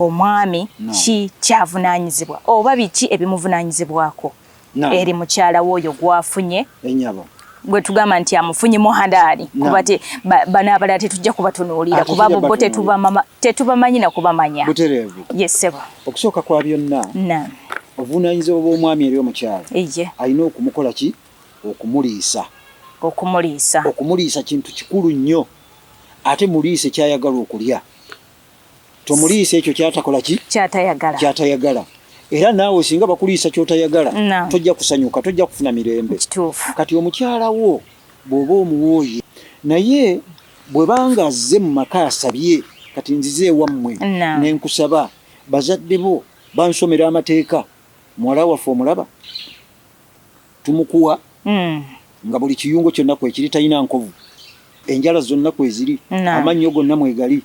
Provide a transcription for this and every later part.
omwami ki kyavunanyizibwa oba biki ebimuvunanyizibwako eri mukyala woyo gwafunye enyabo gwetugamba nti amufunye muhadaali kuba te bana abalala tetujja kubatunuulira kuba bo tetubamanyi nakubamanya butereevu yesebo okusooka kwa byonna obuvunaanyizibwa bw'omwami eri omukyala alina okumukola ki okumuliisa okumuliisa okumuliisa kintu kikulu nnyo ate muliise kyayagalwa okulya tomuliisa ekyo kyatakola ki kyatayagala kyatayagala era naawe singa bakuliisa kyotayagala tojja kusanyuka tojja kufuna mirembe kati omukyala wo bw'oba omuwooye naye bwebanga azze mu maka asabye kati nzize ewammwe nenkusaba bazadde bo bansomera amateeka muwala waffe omulaba Tumukuwa nga buli kiyungo kyonna kwekiri, talina nkovu, enjala zonna kweziri, amannyo gonna mwegali,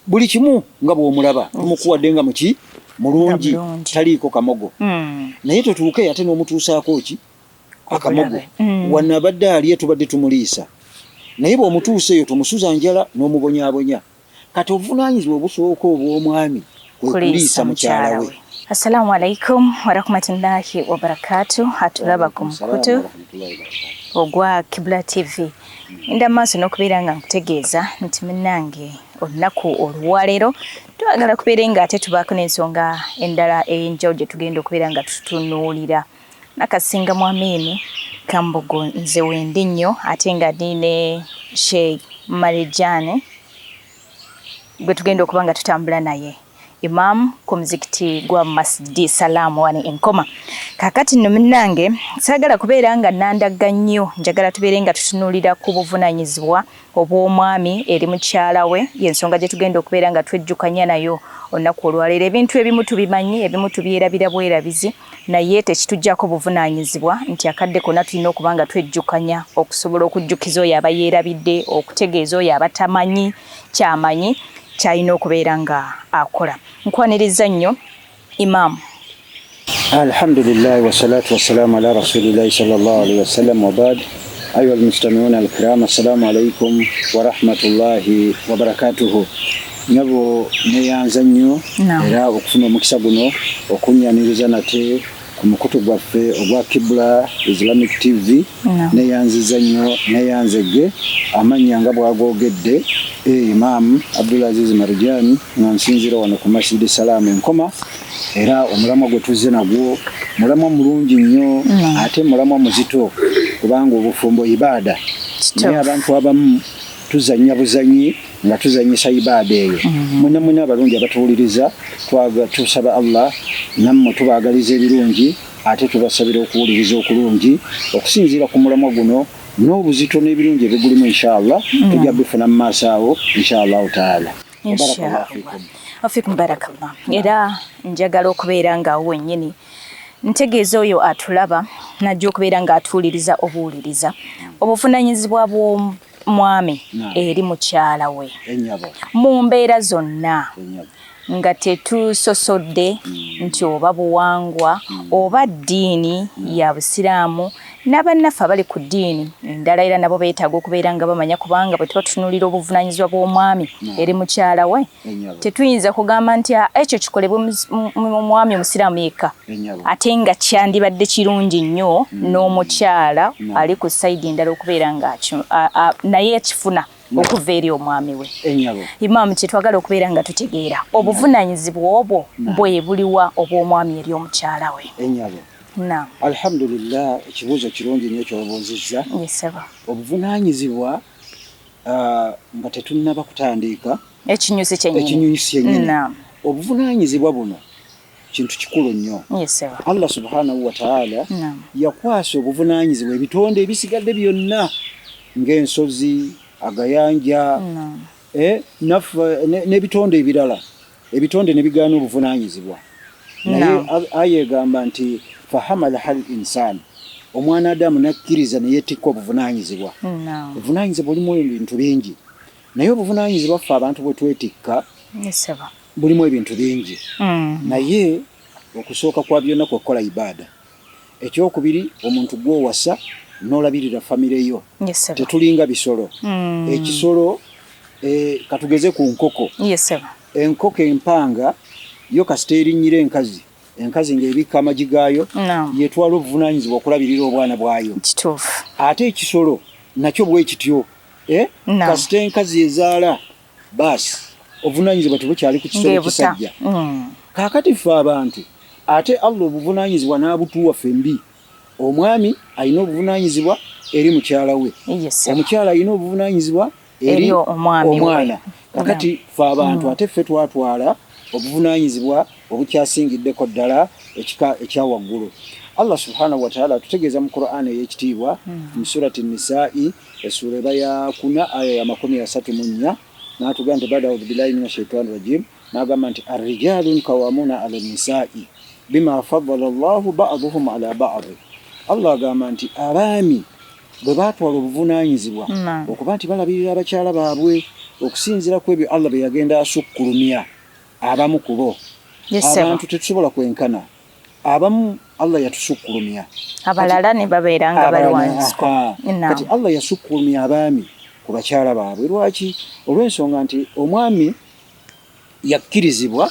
buli kimu nga bw'omulaba. Tumukuwadde nga muki? Mulungi, taliiko kamogo. Naye totuuke ate n'omutuusaako ki? Akamogo. Wano abadde alye tubadde tumuliisa, naye bw'omutuusa eyo tomusuza njala n'omubonyaabonya. Kati obuvunaanyizibwa obusooka obw'omwami kwe kuliisa mukyala we. Assalamu alaikum warahmatullahi wabarakatu atulaba ku mukutu ogwa Kibula TV nda maaso n'okubeera nga nkutegeeza nti munnange olunaku olwaleero twagala kubeere nga ate tubaako n'ensonga endala ey'enjawulo gye tugenda okubeera nga tutunuulira Nakasinga mu Amiini Kambugu nze wendi nnyo ate nga ndi ne Sheikh Marijane gwe tugenda okuba nga tutambula naye Imam ku muzikiti gwa Masjidi Salaamu wano e Nkoma. Kaakati nno munnange saagala kubeera nga nandagga nnyo, njagala tubeere nga tutunuulira ku buvunaanyizibwa obw'omwami eri mukyala we, y'ensonga gye tugenda okubeera nga twejjukanya nayo olunaku olwaleero. Ebintu ebimu tubimanyi, ebimu tubyerabira bwerabizi, naye tekituggyako buvunaanyizibwa nti akadde konna tulina okuba nga twejjukanya okusobola okujjukiza oyo aba yeerabidde, okutegeeza oyo aba tamanyi ky'amanyi ky'alina okubeera nga akola. Nkwanirizza nnyo Imaam. Alhamdulillahi wassalatu wassalaamu ala rasulillahi sallallahu alaihi wasallam wa baad. Ayuha almustamiuuna alkiraam, assalaamu alaikum warahmatullahi wabarakatuhu. Nyabo neyanza nnyo era okufuna omukisa guno okunyaniriza nate ku mukutu gwaffe ogwa Kibula Islamic TV neyanziza nnyo neyanzegge amannya nga bwagogedde e Imam Abdulaziz Marujani nga nsinzira wano ku Masjid Salaam enkoma era omulamwa gwe tuzze nagwo mulamwa mulungi nnyo ate mulamwa muzito kubanga obufumbo ibaada naye abantu abamu tuzannya buzanyi nga tuzanyisa ibaada eyo mhm. mwena mwena abalungi abatuwuliriza tusaba allah nammwe tubaagaliza ebirungi ate tubasabira okuwuliriza okulungi okusinziira ku mulamwa guno n'obuzito n'ebirungi ebigulimu inshaallah mhm. tujja bifuna mu maaso awo inshaallahu taala wafikum barakallah era njagala okubeera nga awo wennyini ntegeeza oyo atulaba najja okubeera nga atuwuliriza obuwuliriza obuvunanyizibwa mwami eri mukyala we mu mbeera zonna nga tetusosodde mm. nti oba buwangwa mm. oba ddiini mm. ya busiraamu n'abannaffe abali ku ddiini endala era nabo beetaaga okubeera nga bamanya kubanga bwe tuba tutunuulira obuvunaanyizibwa bw'omwami eri mukyala we tetuyinza kugamba nti ah, ekyo kikolebwe omwami omusiraamu yekka ate nga kyandibadde kirungi nnyo mm. n'omukyala mm. ali ku sayidi endala okubeera nga naye ekifuna mm. okuva eri omwami we imaamu kyetwagala okubeera nga tutegeera obuvunanyizibwa obwo bwe buliwa obw'omwami eri omukyala we alhamdulillah ekibuuzo kirungi nyo kyobuuzizza obuvunanyizibwa uh, nga tetunnaba kutandiika ekinyusi kyennyini obuvunaanyizibwa buno kintu kikulu nnyo allah subhanahu wataala yakwasa obuvunaanyizibwa ebitonde ebisigadde byonna ng'ensozi agayanja eh, n'ebitonde ebirala ebitonde ne bigaana obuvunaanyizibwa naye aya egamba nti fahamala hal insaani omwana adamu nakkiriza neyetikka obuvunaanyizibwa obuvunaanyizibwa bulimu ebintu bingi naye obuvunaanyizibwa ffe abantu bwe twetikka bulimu ebintu bingi hmm. naye okusooka kwa byonna kwekukola ibaada ekyokubiri omuntu gwowasa nolabirira famire yo tetulinga bisolo mm. ekisolo e, katugeze ku nkoko yes, enkoko empanga yo kasita erinnyira enkazi enkazi ng'ebikka amagi gaayo no. yetwala obuvunaanyizibwa okulabirira obwana bwayo ate ekisolo nakyo bwekityo eh? no. kasita enkazi ezaala baasi obuvunaanyizibwa tebukyali ku kisolo kisajja mm. kaakati ffe abantu ate allah obuvunaanyizibwa n'abutuwa ffembi omwami alina obuvunaanyizibwa eri mukyala we omukyala alina obuvunaanyizibwa eri omwana kakati ffe abantu mm. ate ffe twatwala obuvunaanyizibwa obukyasingiddeko ddala ekika ekya waggulu allah subhanahu wataala atutegeeza mu qur'an ey'ekitiibwa mm. mu surati nisai mm. Essuula eba ya kuna aya ya makumi asatu mu nnya n'atugamba nti bada audu billahi mina shaitani rajim n'agamba nti arrijalun kawamuna ala nisai bima faddala llahu baduhum ala badi allah agamba nti abaami bwe baatwala obuvunaanyizibwa okuba nti balabirira abakyala baabwe okusinziira ku ebyo allah bye yagenda asukkulumya abamu kubo abantu tetusobola kwenkana abamu Allah yatusukkulumya abalala ne babeera nga bali wansi kati Allah yasukkulumya abaami ku bakyala baabwe lwaki olw'ensonga nti omwami yakkirizibwa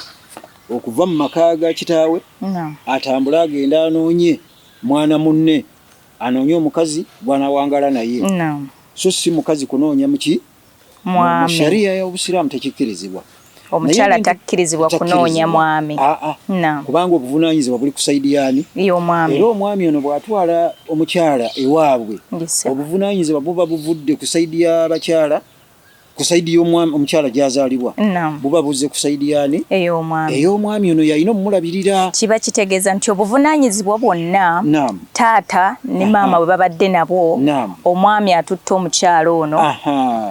okuva mu maka ga kitaawe atambule agende anoonye mwana munne anoonye omukazi gwanawangala naye so si mukazi kunoonya muki no. mwami. Mu sharia ya Obusiraamu tekikkirizibwa. Omukyala takkirizibwa kunoonya mwami. Aa, ah, ah. kubanga obuvunaanyizibwa buli ku sayidi yaani y'omwami. Era omwami ono bw'atwala omukyala ewaabwe obuvunaanyizibwa buba buvudde ku sayidi y'abakyala ku saidi y'omwami omukyala gyazaalibwa buba buzze ku saidi yaani ey'omwami ono yalina omulabirira kiba kitegeeza nti obuvunaanyizibwa bwonna taata ne maama bwe babadde nabwo omwami atutte omukyala ono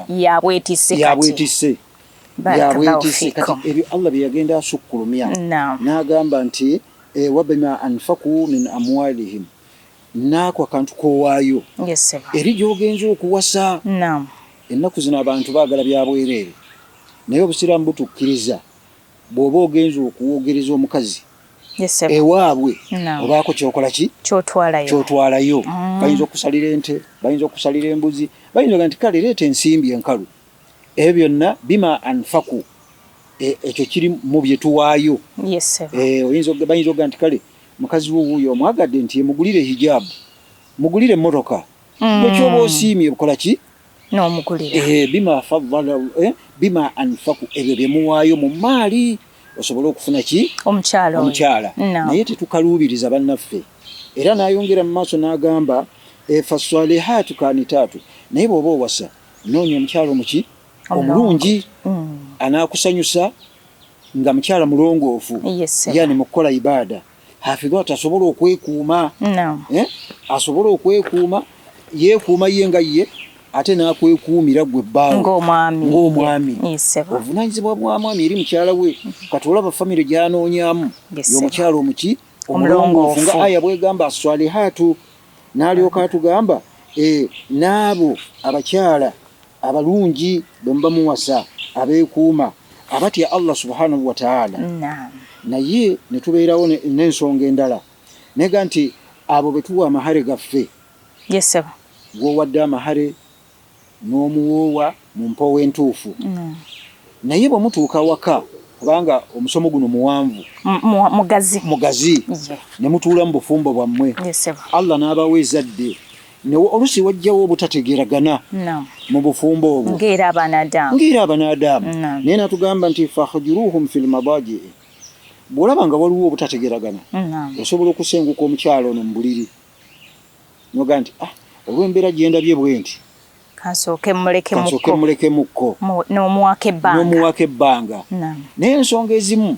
yabwetise yabwetise yabwetise kati ebyo allah bye yagenda asukkulumya n'agamba nti eh, wabima anfaku min amwalihim naako akantu kowaayo eri gyogenza okuwasa ennaku zino abantu baagala byabwereere naye obusiraamu butukkiriza Bwoba ogenze okuwogereza omukazi ewaabwe obaako kyokola ki kyotwalayo mm. bayinza okusalira ente bayinza okusalira embuzi bayinza oga nti kale leeta ensimbi enkalu ebyo byonna bima anfaku e, ekyo kiri mu byetuwaayo eh, bayinza oga nti kale mukazi wo wuuyo omwagadde nti emugulire hijaabu mugulire emmotoka mm. ekyoba osiimye okola ki n'omugulira eh, bima faddala eh, bima anfaku ebyo bye muwaayo mu maali osobole okufuna ki omukyala omukyala naye tetukaluubiriza bannaffe era n'ayongera mu maaso n'agamba eh, faswalihaatu kanitaatu naye bw'oba owasa noonya omukyala omuki omulungi mm. anaakusanyusa nga mukyala mulongoofu yani mukukola ibaada hafidha ati asobola okwekuuma eh? asobola okwekuuma yeekuuma ye nga ye ate nakwekuumira gwe bbaawe ng'omwami obuvunaanyizibwa bwa mwami eri mukyala we kati olaba famire gyanoonyamu y'omukyala omuki omulongoofu nga aya bwegamba aswalihaatu N'alyoka atugamba, Ee, n'abo abakyala abalungi bwe muba muwasa, abeekuuma, abatya Allah subhaanahu wa ta'aala. Naye ne tubeerawo n'ensonga endala, nega nti, Abo be tuwa amahare gaffe. Gw'owadde amahare. n'omuwoowa mu mpoowo entuufu naye bwe mutuuka awaka kubanga omusomo guno muwanvu mugazi ne mutuula mu bufumbo bwammwe Allah n'abawa ezadde nawe olusi wajjawo obutategeragana mu bufumbo obwo ng'era abanaadaamu naye natugamba nti fahujuruhum fi lmadaji bw'olaba nga waliwo obutategeragana osobola okusenguka omukyalo ono mu buliri noga nti ah olw'embeera gye ndabye bwe nti kansooke mmulekemukko n'omuwako ebbanga naye ensonga ezimu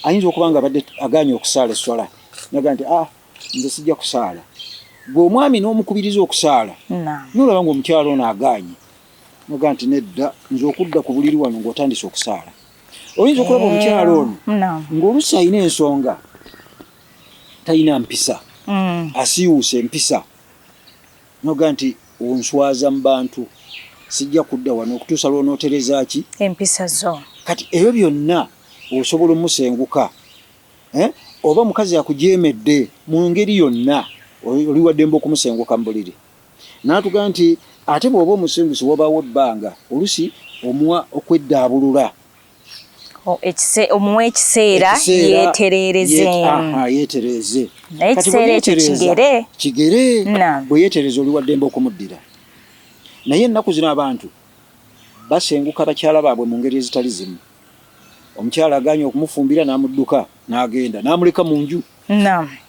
ayinza okuba nga abadde agaanye okusaala esswala naga nti ah nze sijja kusaala gwe omwami n'omukubiriza okusaala nolaba nga omukyalo ono agaanye noga nti nedda nze okudda ku buliri wano ng'otandise okusaala oyinza okulaba eh, omukyalo ono ng'olusi alina ensonga talina mpisa mm. asiiwuuse empisa noga nti onswaza mu bantu sijja kudda wano okutuusa lwonootereza ki empisa zo kati ebyo byonna osobola omusenguka eh? oba mukazi akujeemedde mu ngeri yonna oli waddembe okumusenguka mu buliri naatugaa nti ate bw'oba omusengusi wabaawo ebbanga olusi omuwa okweddaabulula omuwa ekiseera yetereereze naye ekiseera ekyo kigere kigere bwe yeetereza oli waddembe okumuddira naye ennaku zino abantu basenguka bakyala baabwe mu ngeri ezitali zimu omukyala aganye okumufumbira n'amudduka n'agenda n'amuleka mu nju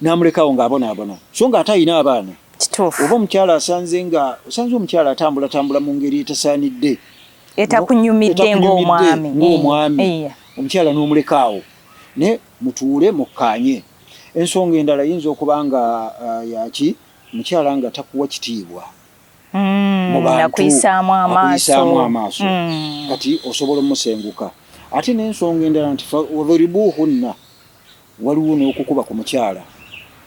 n'amulekawo ng'abonaabona so nga ate alina abaana oba omukyala asanze nga osanze omukyala atambulatambula mu ngeri etasaanidde etakunyumidde ng'omwami ng'omwami eh, eh. omukyala n'omulekaawo naye mutuule mukkaanye ensonga endala yinza okuba nga uh, yaki mukyala nga takuwa kitiibwa hmm, akuyisaamu amaaso hmm. kati osobola omusenguka ate n'ensonga endala nti wadhuribuhunna Waliwo n'okukuba ku mukyala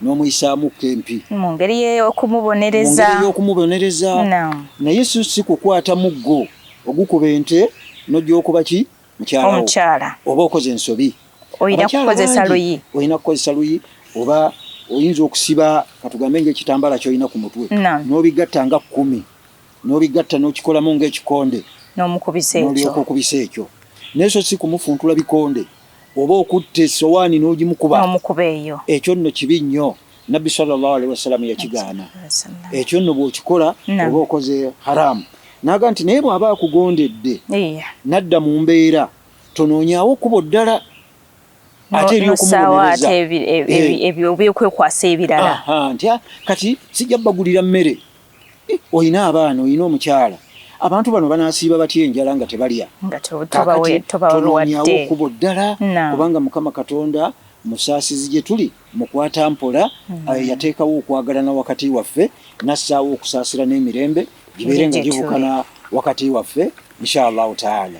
n'omuyisaamukko empi. Mu ngeri y'okumubonereza. Mu ngeri y'okumubonereza. Naam. Naye si si kukwata muggo ogukuba ente n'ogy'okuba ki mukyala wo. Omukyala. Oba okoze ensobi. Olina kukozesa luyi. Olina kukozesa luyi oba oyinza okusiba katugambe ng'ekitambaala ky'olina ku mutwe. Naam. N'obigatta nga kkumi. N'obigatta n'okikolamu ng'ekikonde. N'omukubisa ekyo. N'olyoka okubisa ekyo. Naye so si kumufuntula bikonde. oba okutta esowaani n'ogimukuba n'omukuba eyo ekyo nno kibi nnyo nabbi sallallahu alaihi wasallam yakigaana ekyo nno bw'okikola oba okoze haramu naga nti naye bw'aba akugondedde nadda mu mbeera tonoonyaawo kubo ddala ate eryokumubonereza ebyokwekwasa ebirala nti ah, kati sijja bagulira mmere Olina abaana, olina omukyala. Abantu bano banaasiiba batya enjala nga tebalya? Kaakati tonoonyawo kkubo ddala, kubanga Mukama Katonda musaasizi gye tuli, mukwata mpola, eyateekawo okwagalana wakati waffe, n'assaawo okusaasira n'emirembe gibeere nga gibukana wakati waffe, Insha Allahu Taala.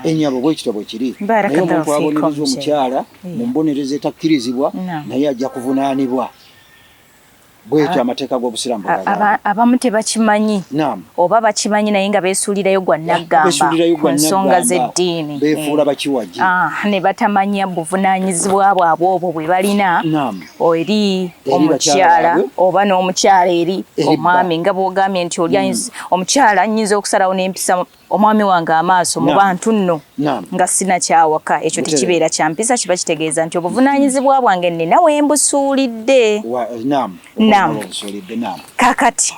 Ennyabo, bwe kityo bwe kiri. Naye omuntu abonereza omukyala mu mbonereza etakkirizibwa, naye ajja kuvunaanibwa. bwekyo amateeka g'obusiraamu abamu tebakimanyi oba bakimanyi naye nga beesuulirayo gwa naggamba ku nsonga z'eddiini beefuula bakiwagi ah, ne batamanya buvunaanyizibwa bwabwe obwo bwe balina eri omukyala oba n'omukyala eri omwami nga bw'ogambye nti oli mm. omukyala nyinza okusalawo n'empisa omwami wange amaaso mu bantu nno nga sinakyawaka ekyo tekibeera kya mpisa kiba kitegeeza nti obuvunaanyizibwa bwange nnina we mbusuulidde nam kakati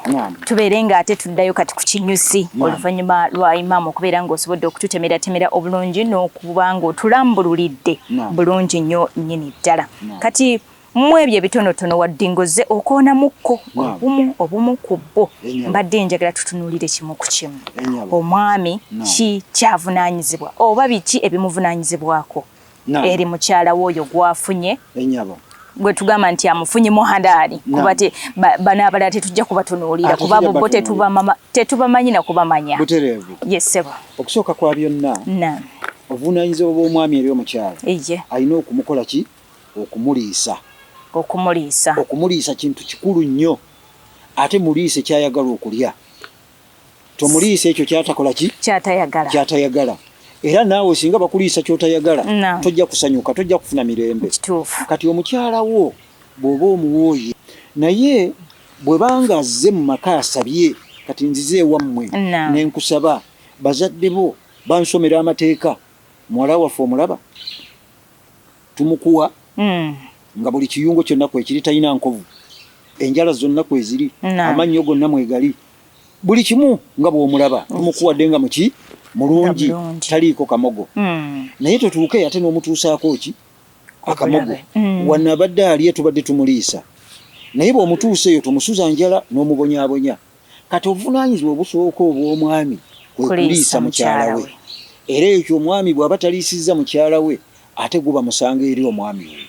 tubeere nga ate tuddayo kati ku kinyusi oluvannyuma lwa imaamu okubeera ng'osobodde okututemeratemera obulungi n'okuba ng'otulambululidde bulungi nnyo nnyini ddala kati mu ebyo ebitonotono wadde ngoze okoonamukko obumu obumu ku bbo mbadde njagala tutunuulire kimu ku kimu omwami ki kyavunaanyizibwa oba biki ebimuvunaanyizibwako eri mukyala we oyo gwafunye gwe tugamba nti amufunye muhadaali kuba te bano abalala tetujja kubatunuulira kuba bo tetubamanyi na kubamanya yesebo okusooka kwa byonna obuvunaanyizibwa bw'omwami eri omukyala alina okumukola ki okumuliisa. Okumuliisa. Okumuliisa kintu kikulu nnyo ate muliise kyayagala okulya. Tomuliisa ekyo kyatakola ki? Kyatayagala. Kyatayagala. Era naawe singa bakuliisa kyotayagala tojja kusanyuka, tojja kufuna mirembe. Kituufu. Kati omukyala wo bw'oba omuwooye naye bwe banga azze mu maka asabye kati nzize ewammwe ne nkusaba bazadde bo bansomera amateeka muwala waffe omulaba tumukuwa mm. nga buli kiyungo kyonna kwekiri talina nkovu enjala zonna kweziri amannyo gonna mwegali buli kimu nga bwomulaba tumukuwadde nga muki mulungi taliiko kamogo mm. naye totuuke ate n'omutuusaako ki akamogo mm. wanabadde alye tubadde tumuliisa naye bw'omutuusa eyo tomusuza njala n'omubonyabonya Kati obuvunaanyizibwa obusooka obw'omwami kwe kuliisa mukyala we, era ekyo omwami bw'aba taliisizza mukyala we ate guba musango eri omwami oyo.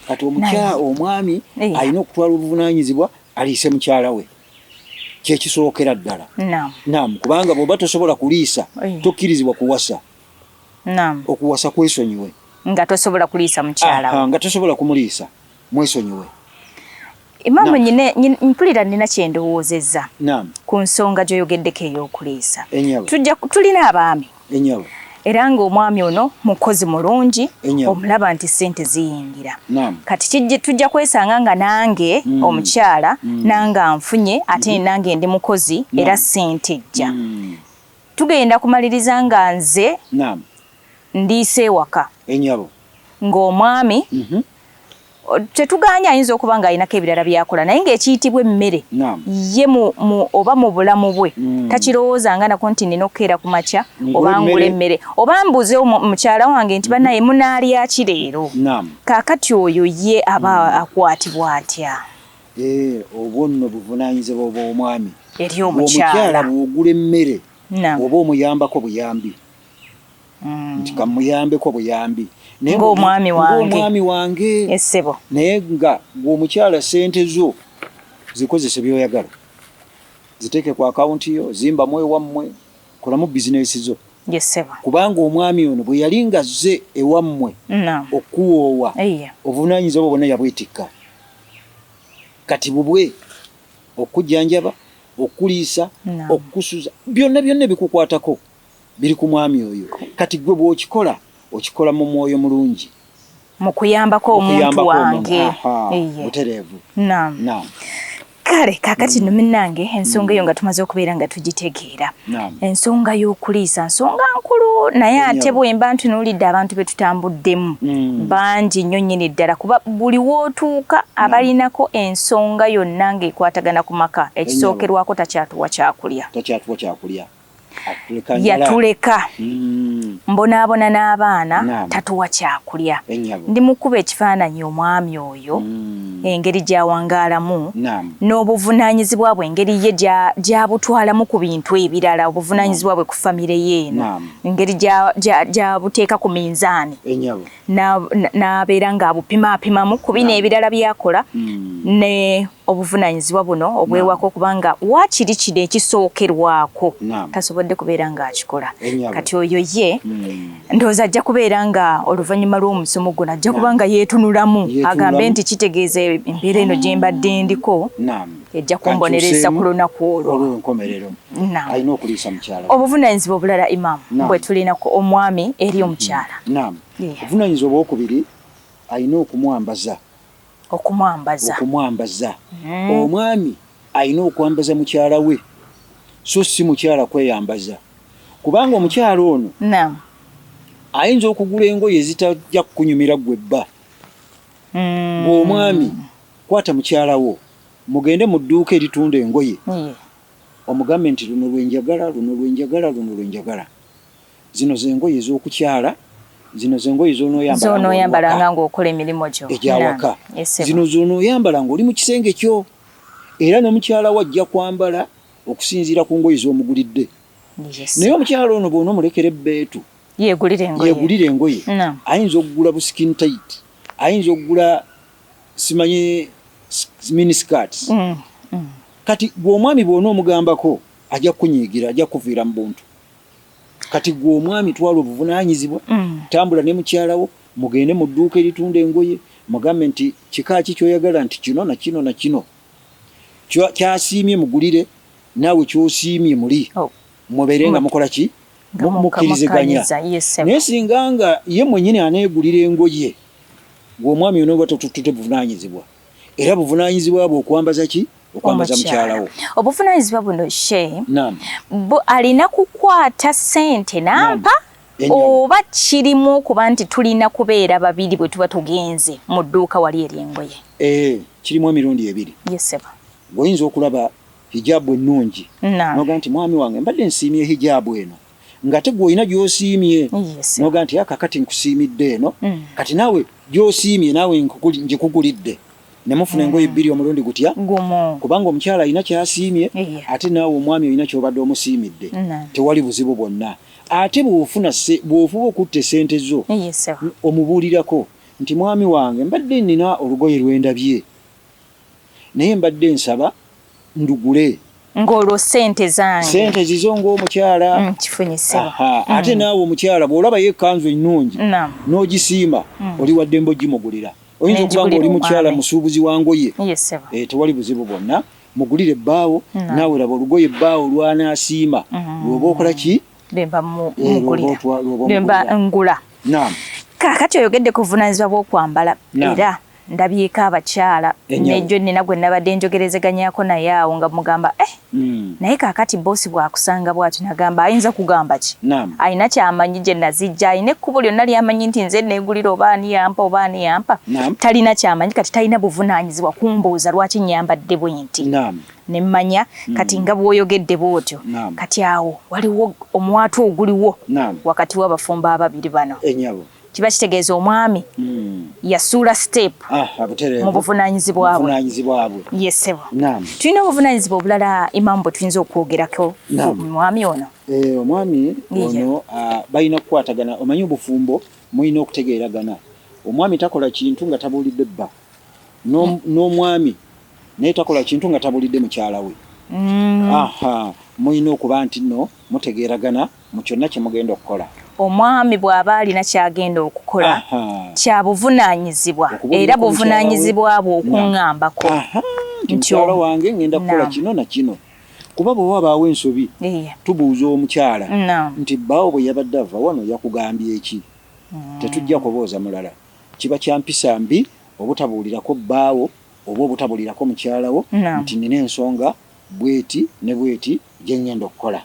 Kati omukyala omwami alina okutwala obuvunaanyizibwa aliise mukyala we kyekisookera ddala. Naam, kubanga bw'oba tosobola kuliisa tokkirizibwa kuwasa. Naam, okuwasa kwesonyiwe nga tosobola kuliisa mukyala we, nga tosobola kumuliisa. mwesonyiwe Imamu nyine mpulira nina kyendowoozezza ku nsonga gyoyogeddeko eyokuliisa tujja tulina abaami era ng'omwami ono mukozi mulungi omulaba nti sente ziyingira kati kijje tujja kwesanga nga nange mm. omukyala mm. nanga nfunye ate mm-hmm. nange ndi mukozi era sente ejja mm. tugenda kumaliriza nga nze ndiise ewaka ng'omwami mhm. tetugaanye ayinza okuba ng'alinako ebirala byakola naye ng'ekiyitibwa emmere ye oba mu bulamu bwe mm. takirowooza nga nako nti nina okukeera ku makya oba ngula emmere oba mbuze mukyala wange nti banaye mm-hmm. munaalyaki leero kaakati oyo ye aba mm. akwatibwa atya eh, obwo nno buvunaanyizibwa obw'omwami eri omukyala bw'ogula emmere oba omuyambako buyambi mm. nti kamuyambeko buyambi ngaomwami wange wange esebo naye nga gweomukyala sente zo zikozese byoyagala ziteeke ku akawunti yo zimbamu ewammwe kolamu bizinesi zo kubanga omwami ono bwe yali nga zze ewammwe okuwoowa obuvunaanyinza obwo bwonna yabwetikka kati bubwe okujjanjaba okuliisa okukusuza byonna byonna ebikukwatako Biri ku mwami oyo. Kati ggwe bw'okikola, okikola mu mwoyo mulungi. Mu kuyambako omuntu wange. Butereevu. Naam. Kale kakati nno minnange ensonga eyo nga tumaze okubeera nga tugitegeera ensonga y'okuliisa nsonga nkulu naye ate bwemba ntunuulidde abantu be tutambuddemu mm. bangi nnyo nnyini ddala kuba buli wootuuka abalinako ensonga yonna ng'ekwatagana ku maka ekisookerwako takyatuwa kyakulya yatuleka mm. mbonaabona n'abaana tatuwa kyakulya ndi mukuba ekifaananyi omwami oyo mm. engeri gyawangaalamu n'obuvunaanyizibwa bwe engeri ye gyabutwalamu ku bintu ebirala obuvunaanyizibwa bwe ku famire ye eno engeri gyabuteeka ku minzaani n'abeera ng'abupimaapimamu ku bino ebirala byakola mm. ne obuvunanyizibwa buno obwewaka okuba nga wakiri kino ekisookerwako tasobodde kubeera ng'akikola eh, kati oyo ye hmm. ndowooza ajja kubeera nga oluvannyuma lw'omusomo guno ajja kuba nga yeetunulamu agambe nti kitegeeza embeera eno gye mbadde ndiko ejja kumbonereza ku lunaku olwo obuvunanyizibwa obulala imaamu bwe tulina ku omwami eri omukyala obuvunanyizibwa obwokubiri alina okumwambaza okumwambaza okumwambaza mm. omwami alina okwambaza mukyala we so si mukyala kweyambaza kubanga omukyala ono ayinza okugula engoye ezitajja kukunyumira gwe bba mm. ng'omwami kwata mukyala wo mugende mu dduuka eritunda engoye omugambe nti luno lwenjagala luno lwenjagala luno lwenjagala Zino ze ngoye ez'okukyala. Zino ze ngoye z'onooyambalanga ng'okola emirimu gyo egy'awaka. Zino z'onooyambala ng'oli mu kisenge kyo, era ne mukyala wo ajja kwambala okusinziira ku ngoye z'omugulidde. Naye omukyala ono bw'onoomulekera ebbeetu yeegulire engoye, ayinza okugula bu skin tight, ayinza okugula simanyi mini skirts. Mm, mm. Kati gw'omwami bw'onoomugambako ajja kukunyiigira, ajja kukuviira mu buntu. kati gwe omwami twala obuvunanyizibwa mm. tambula ne mukyalawo mugende mu dduuka eritunda engoye mugambe nti kika ki kyoyagala nti kino na kino na kino kyasiimye mugulire naawe kyosiimye muli oh. mubeere nga mm. mukola ki mukkiriziganya naye singa nga ye mwenyini aneegulira engoye gwe omwami onooba totutute buvunanyizibwa Era buvunanyizibwa bwo okwambaza ki okwambaza mukyala wo. Obuvunanyizibwa buno she bu alina kukwata sente nampa oba kirimu okuba nti tulina kubeera babiri bwe tuba tugenze mu dduuka wali eryengoye. Eh, kirimu emirundi ebiri. Yes, sir. Goyinza okulaba hijaabu ennungi noga nti mwami wange mbadde nsiimye hijaabu eno ngate gwolina gyosiimye noga nti aka kati nkusiimidde eno mm. kati naawe gyosiimye naawe ngikugulidde nemufuna engoye mm. bbiri omulundi gutya kubanga omukyala alina kyasiimye ate naawe omwami olina kyobadde omusiimidde tewali buzibu bwonna ate bwofuna bwofuba okutta esente zo omubuulirako nti mwami wange mbadde nina olugoye lwendabye Naye mbadde nsaba ndugule. Ng'olwo ssente zange. Ssente zizo ng'omukyala. Mm, kifunye ssebo. Mm. Ate naawe omukyala bw'olabayo ekkanzu ennungi. Naam. N'ogisiima. Mm. Oli wa ddembe ogimugulira. Oyinza okuba ng'oli mukyala musuubuzi wa ngoye. Yes, ssebo. Eh, tewali buzibu bwonna. Mugulire bbaawo. Naawe laba olugoye bbaawo lw'anaasiima. Mm. Lw'oba okola ki? Lwemba eh, mugulira. Lwemba ngula. Naam. Kaakati oyogedde ku buvunaanyizibwa bw'okwambala. Naam. Era. ndabyeko abakyala nejo nina gwe nabadde njogerezeganyako naye awo nga mugamba eh mm. naye kakati bosi bwakusanga bwati nagamba ayinza kugamba ki alina kyamanyi gye nazijja alina ekkubo lyonna lyamanyi nti nze negulira oba ani yampa oba ani yampa talina kyamanyi kati talina buvunaanyizibwa kumbuuza lwaki nyambadde bwenti ne mmanya mm. kati nga bwoyogedde bwotyo kati awo waliwo omwatu oguliwo wakati w'abafumbo ababiri bano enyabo kiba kitegeeza omwami hmm. yasuula step ah, mu buvunanyizibwa bwe yesebo tulina obuvunanyizibwa obulala imamu bwe tuyinza okwogerako omwami ono eh, omwami ono ah, balina kukwatagana omanyi obufumbo mulina okutegeeragana omwami takola kintu nga tabuulidde bba hmm. n'omwami naye takola kintu nga tabuulidde mukyala we hmm. mulina okuba nti no mutegeeragana mu kyonna kye mugenda okukola omwami bw'aba alina ky'agenda okukola kya buvunaanyizibwa era buvunaanyizibwa bwe okuŋŋambako nti omukyalo wange ŋŋenda kukola kino na kino kuba bwe wabaawo ensobi tubuuza omukyala nti bbaawo bwe yabadde ava wano yakugambye ki mm. tetujja kubooza mulala kiba kya mpisa mbi obutabuulirako bbaawo oba obutabuulirako mukyalawo nti nina ensonga bweti ne bweti gye ngenda okukola.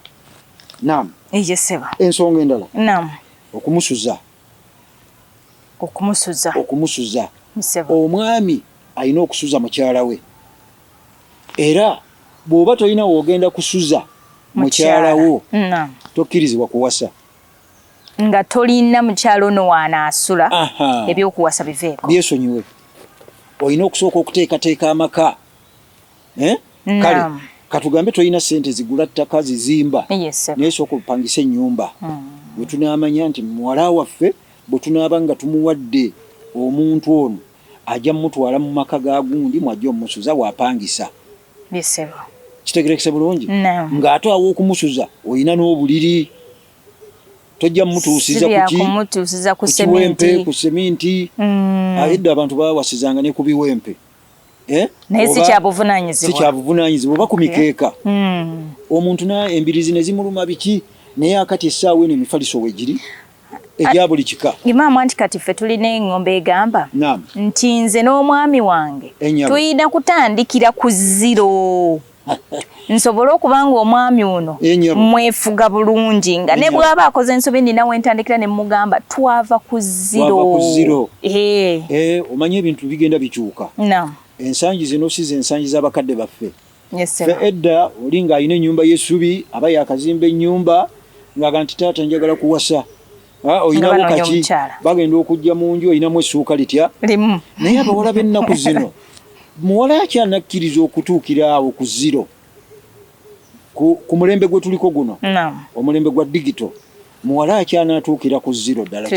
Naam. Ije ssebo. Ensonga endala. Naam. Okumusuza. Okumusuza. Okumusuza. Ssebo. Omwami alina okusuza mukyala we era bw'oba tolina w'ogenda kusuza mukyala wo tokkirizibwa kuwasa nga tolina mukyala ono waanaasula ebyokuwasa biveeko byesonyiwe olina okusooka okuteekateeka amaka eh? kale katugambe tolina sente zigula ttaka zizimba yes, naye sooka olupangisa ennyumba mm. wetunaamanya nti muwala waffe bwetunaaba nga tumuwadde omuntu ono ajja mumutwala mu maka ga gundi mwajja omusuza wapangisa kitegerekese bulungi ng'ate awo okumusuza olina n'obuliri tojja mutuusiza kukiwempe ku seminti mm. ayedde abantu bawasizanga ne ku biwempe Eh? naye si kyabuvunaanyizibwa oba ku mikeeka hmm. omuntu na embirizi ne zimuluma biki naye akati essaawa eno emifaliso wegiri ebya buli kika imaamu anti kati ffe tulina eng'ombe egamba nti nze n'omwami wange tuyina kutandikira ku ziro nsobole okuba nga omwami ono mwefuga bulungi nga ne bwaba akoze ensobi nina wentandikira ne mugamba twava ku ziro eh. Eh, omanyi ebintu bigenda bikyuka ensangi zino si zensangi z'abakadde baffe fe edda oli ng'alina ennyumba y'essubi aba yakazimba ennyumba ng'aga nti taata njagala kuwasa Ah, olinawo kaki bagenda okujja mu nju olinamu essuuka litya limu naye abawala b'ennaku zino muwala yaki anakkiriza okutuukira awo ku ziro ku mulembe gwe tuliko guno omulembe gwa digito muwala yaki anaatuukira ku ziro ddala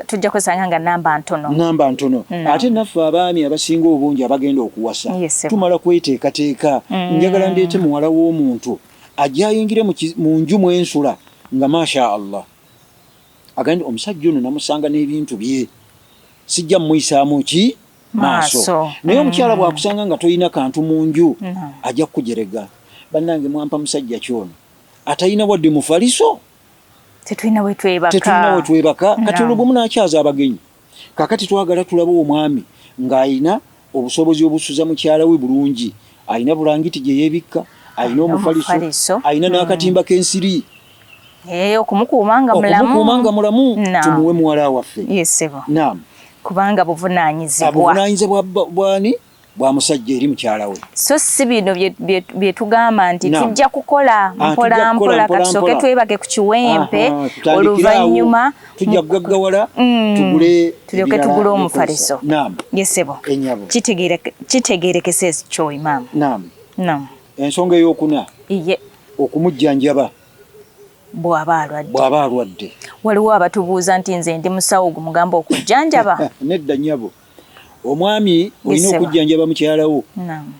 tujja kwesanga nga namba ntono namba ntono ate naffe abaami abasinga obungi abagenda okuwasa tumala kweteekateeka mm. njagala ndeete muwala w'omuntu ajja ayingire mu nju mwensula nga masha allah agambye omusajja ono namusanga n'ebintu bye sijja muyisaamu ki maaso naye omukyala mm. bwakusanga nga tolina kantu mu nju mm. ajja kukujerega bannange mwampa musajja ki ono atalina wadde mufaliso tetulina wetwebaka kati olwo bwe munakyaza abagenyi Kakati twagala tulabe omwami ng'alina obusobozi obusuza mukyala we bulungi. Alina bulangiti gye yeebikka, alina omufaliso, alina hmm. n'akatimba k'ensiri. Eh, okumukuuma nga mulamu. Okumukuuma nga mulamu tumuwe muwala waffe. Naam. Kubanga buvunaanyizibwa. Buvunaanyizibwa bwani? bwa musajja eri mukyala we so si bino bye tugamba nti tujja kukola ah, mpola mpola katusooke twebage ku kiwempe oluvannyuma tujja kugaggawala mm. tugule tulyoke tugule omufaliso yesebo kitegeerekese kyoyi maama ensonga eyokuna iye okumujjanjaba bw'aba alwadde bw'aba alwadde waliwo abatubuuza nti nze ndi musawo gumugamba okujjanjaba nedda nyabo omwami olina okujjanjaba mukyalawo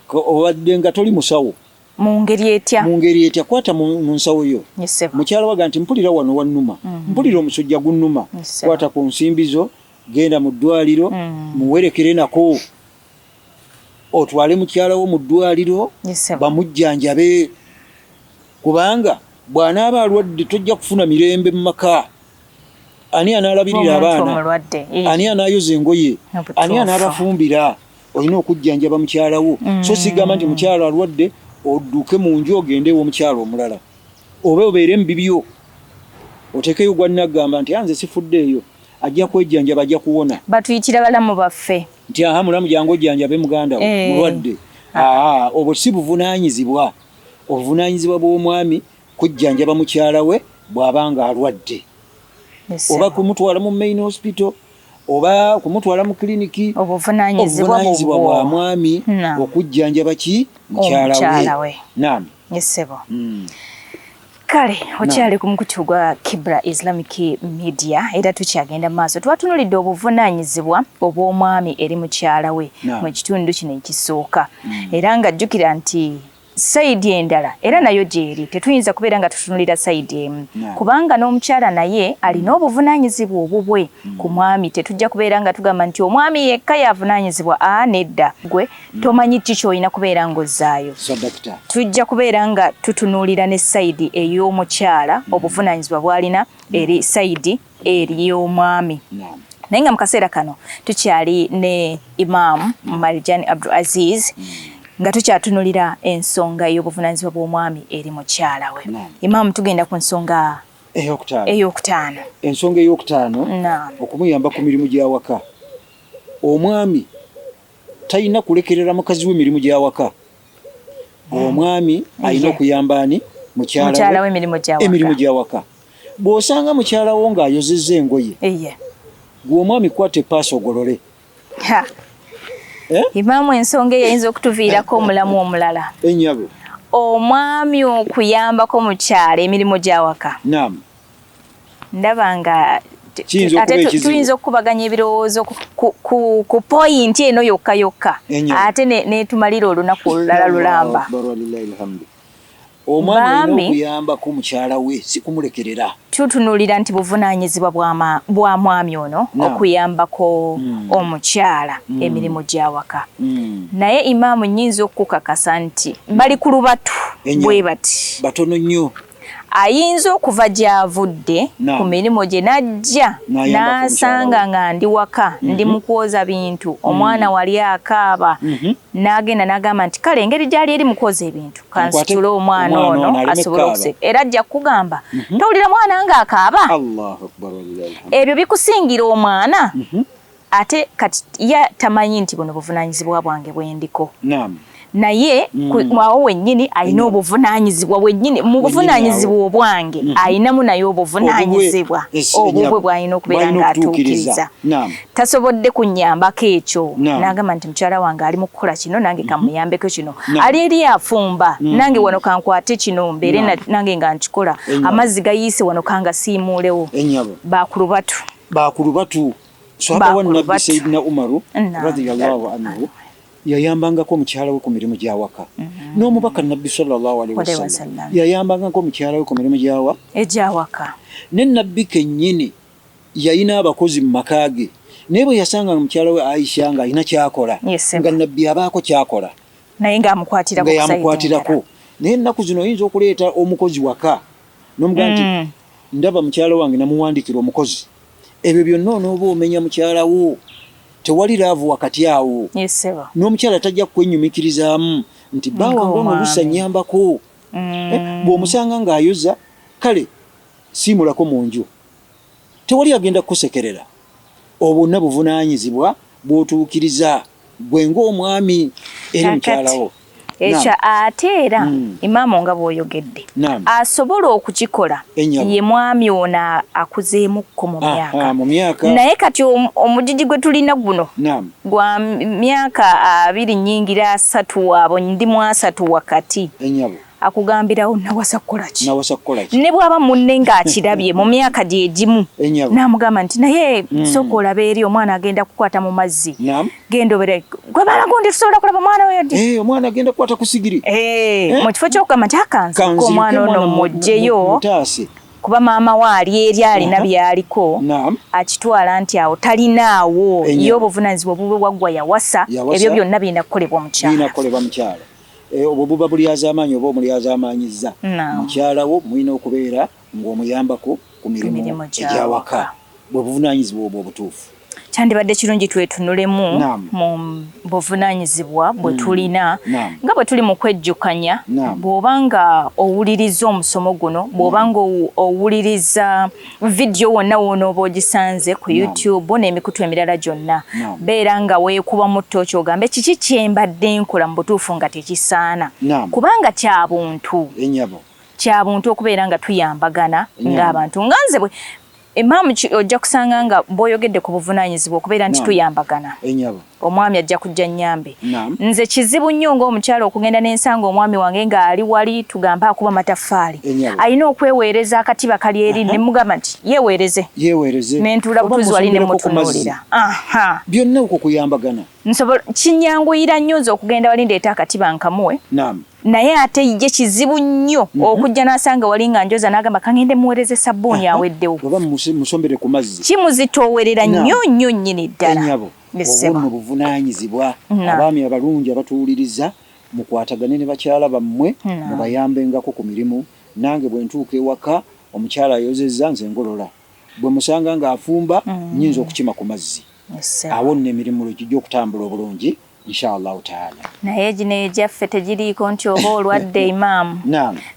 obadde nga toli musawo mungeri etya mungeri etya kwata mu nsawo yo mukyala waga nti mpulira wano wannuma mm. mpulira omusujja gunnuma kwata ku nsimbi zo genda mu ddwaliro mm. muwerekere nako otwale mukyala wo mu ddwaliro bamujjanjabe kubanga bw'anaaba alwadde tojja kufuna mirembe mu maka ani anaalabirira abaana ani anaayoza engoye ani anaabafumbira olina okujjanjaba mukyala wo mm. so sigamba nti mukyala alwadde odduke mu nju ogende ew'omukyala omulala oba obeere mu bibyo otekeyo gwannagamba nti anze sifuddeeyo ajja kwejjanjaba ajja kuwona batuyitira balamu baffe nti aha mulamu jangu ojjanjabe muganda wo eh. mulwadde ah. aa obwo si buvunaanyizibwa obuvunaanyizibwa bw'omwami kujjanjaba mukyala we bw'aba ng'alwadde oba kumutwala mu main hospital oba kumutwala mu kiliniki obuvunaanyizibwa bwa mwami okujjanjaba ki mukyala we naami kale okyali ku mukutu gwa kibra islamic media era tukyagenda maaso twatunulidde obuvunaanyizibwa obw'omwami eri mukyala we mu kitundu kino ekisooka mm. era ng'ajjukira nti sayidi endala era nayo gyeri tetuyinza kubeera nga tutunulira sayidi emu kubanga n'omukyala naye alina mm. obuvunanyizibwa obubwe mm. ku mwami tetujja kubeera nga tugamba nti omwami yekka yavunanyizibwa a ah, nedda gwe mm. tomanyi ki kyolina kubeera ng'ozzaayo tujja kubeera nga tutunuulira ne sayidi ey'omukyala obuvunanyizibwa bwalina eri sayidi eri omwami naye nga mu kaseera kano tukyali ne Imam Marijani Abdul Aziz nga tukyatunulira ensonga ey'obuvunaanyizibwa bw'omwami eri mukyala we. Imam, tugenda ku nsonga ey'okutaano. Ensonga ey'okutaano okumuyamba ku mirimu gy'awaka omwami Talina kulekerera mukazi we mirimu gya waka. Omwami alina okuyamba ani? Mukyala we emirimu gya waka. Bw'osanga mukyala wo ng'ayozezza engoye, gwe omwami kwata epaasi ogolole. Eh? Imaamu ensonga eyayinza okutuviirako omulamu omulala. Enyabo. Omwami okuyambako mukyala emirimu gy'awaka. Naam. ndaba nga tuyinza okukubaganya ebirowoozo ku poyinti eno yokka yokka ate netumalira olunaku olulala lulamba omwami okuyambako mukyala we sikumulekerera tutunulira nti buvunanyizibwa bwa mwami ono okuyambako hmm. omukyala hmm. emirimu gyawaka hmm. naye imaamu nyinza okukakasa nti bali ku lubatu bwe bati batono nnyo ayinza okuva gy'avudde ku mirimu gye n'ajja n'asanga nga ndi waka mhm. ndi mu kwoza bintu mhm. omwana wali akaaba mhm. n'agenda n'agamba nti kale engeri gy'ali eri mu kwoza ebintu kansitule omwana ono asobole okuseka era ajja kukugamba towulira mwana ng'akaaba ebyo bikusingira omwana ate kati ya tamanyi nti buno buvunanyizibwa bwange bwendiko naam naye mm. awo wenyini alina mm. obuvunanyizibwa wenyini mu buvunanyizibwa obwange mm-hmm. alinamu naye obuvunanyizibwa obubwe bwalina okubeera nga atuukiriza tasobodde kunyambako ekyo nagamba nti mukyala wange ali mukukola kino nange mm-hmm. kamuyambeko kino ali eri afumba mm-hmm. nange wano kankwate kino mbeere nange nga nkikola amazzi gayiise wano kangasiimuulewo bakulubatu bakulubatu Swahaba wa Nabbi Sayyidina Umaru radhiyallahu anhu yayambangako omukyala we ku mirimu gya waka mm-hmm. n'omubaka nabbi sallallahu alaihi wasallam yayambangako omukyala we ku mirimu gyawa egyawaka ne nabbi kennyini yalina abakozi mu maka ge naye bwe yasanga nga mukyala we aisha nga alina kyakola nga nabbi abaako kyakola naye nga yamukwatirako naye ennaku zino oyinza okuleeta omukozi waka nomugamba nti mm. ndaba mukyala wange namuwandikira omukozi ebyo byonna onooba omenya mukyala wo tewali laavu wakati awo n'omukyala tajja kukwenyumikirizaamu nti baawange ono olusa nyambako mm. eh, bw'omusanga ng'ayoza kale siimulako mu nju Tewali agenda kukusekerera. Obwo bwonna buvunaanyizibwa bw'otuukiriza ggwe ng'omwami eri mukyala wo. Ekyo ate era hmm. imaamo nga bw'oyogedde asobola okukikola ye mwami ono akuzeemukko mu myaka naye kati omujiji gwe tulina guno gwa myaka abiri nyingira asatu waabo ndi mu asatu wakati akugambirawo nawasa kukolaki nawasa kukolaki ne bwaba munne ng'akirabye mu myaka gye gimu n'amugamba nti naye mm. sooka olabe eri omwana agenda kukwata mu mazzi genda obere gwe balagu ndi tusobola kulaba omwana oyo di eh, omwana agenda kukwata ku sigiri eh, eh? mu kifo ky'okugamba nti akansi ko omwana ono mujjeyo kuba maama we ali eri alina byaliko akitwala nti awo talinaawo ye obuvunanyizibwa obubwe waggwa yawasa ebyo byonna birina kukolebwa omukyala Eh, obwo buba bulyazaamaanyi oba omulyazaamaanyizza mukyala wo mulina okubeera ng'omuyambako ku mirimu egyawaka bwe buvunaanyizibwa obwo obutuufu kyandibadde kirungi twetunulemu mu buvunaanyizibwa bwe mm. tulina nga bwe tuli mu kwejjukanya bw'oba nga owuliriza omusomo guno bw'oba nga owuliriza vidiyo wonna woonooba ogisanze ku youtube n'emikutu emirala gyonna beera nga weekuba mu tooki ogambe kiki kyembadde nkola mu butuufu nga tekisaana kubanga kya buntu eh, kya buntu okubeera nga tuyambagana ng'abantu nga nze emaamu ojja kusanga nga bwoyogedde ku buvunaanyizibwa okubeera nti tuyambagana eh, omwami ajja kujja nyambe nze kizibu nnyo ng'omukyala okugenda n'ensanga omwami wange ng'ali wali tugambe akuba mataffaali alina okweweereza akatiba kali eri ne mugamba nti yeweereze nentuula butuzi wali ne mutunuulira byonna okwo kuyambagana nsobola kinyanguyira nnyo nze okugenda wali ndeeta akatiba nkamuwe naye ate ye kizibu nnyo mhm. okujja n'asanga wali nga njoza n'agamba kangende muweereze sabbuuni aweddewo kimuzitoowerera nnyo nnyo nnyini ddala obunno buvunaanyizibwa abaami abalungi abatuwuliriza mukwatagane ne bakyala bammwe mubayambengako ku mirimu nange bwe ntuuka ewaka omukyala ayozezza nze ngolola bwe musanga ng'afumba nnyinza mm. okukima ku mazzi awo nno emirimu lwe gijja okutambula obulungi inshallah taala naye gino egyaffe tegiriiko nti oba olwadde imaamu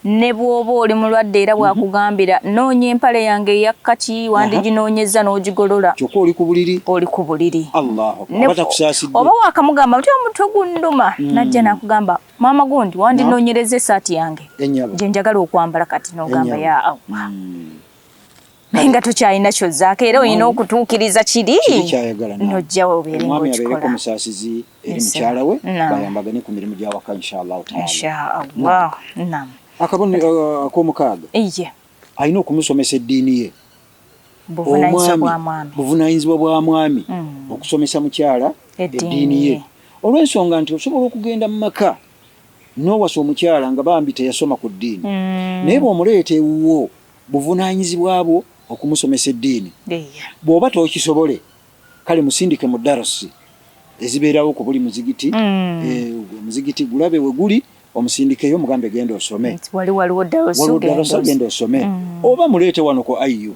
ne bw'oba oli mulwadde era mhm. bw'akugambira noonya empale yange eya kkaki wandiginoonyezza n'ogigolola kyokka oli ku buliri oli ku buliri oba waakamugamba nti omutwe gunnuma mm. najja n'akugamba maama gundi wandinoonyereza esaati yange gye njagala okwambala kati n'ogamba ya awa mm. naye nga tokyalina kyozzaako era olina okutuukiriza kiri nojja obeere ngaokikola eri mukyala we bayambagane ku mirimu gya waka inshallah taala akabonero uh, akomukaaga alina okumusomesa eddiini ye omwami buvunanyizibwa bwa mwami mm. okusomesa mukyala eddiini ye olw'ensonga nti osobola okugenda mu maka n'owasa omukyala nga bambi teyasoma ku ddiini mm. naye bw'omuleeta ewuwo buvunanyizibwa bwo okumusomesa eddiini bw'oba tokisobole kale musindike mu darusi ezibeerawo ku buli muzigiti mm. eh, muzigiti gulabe we guli omusindikeyo mugambe genda osome waliwo darusi genda osome mm. oba muleete wano ku ayu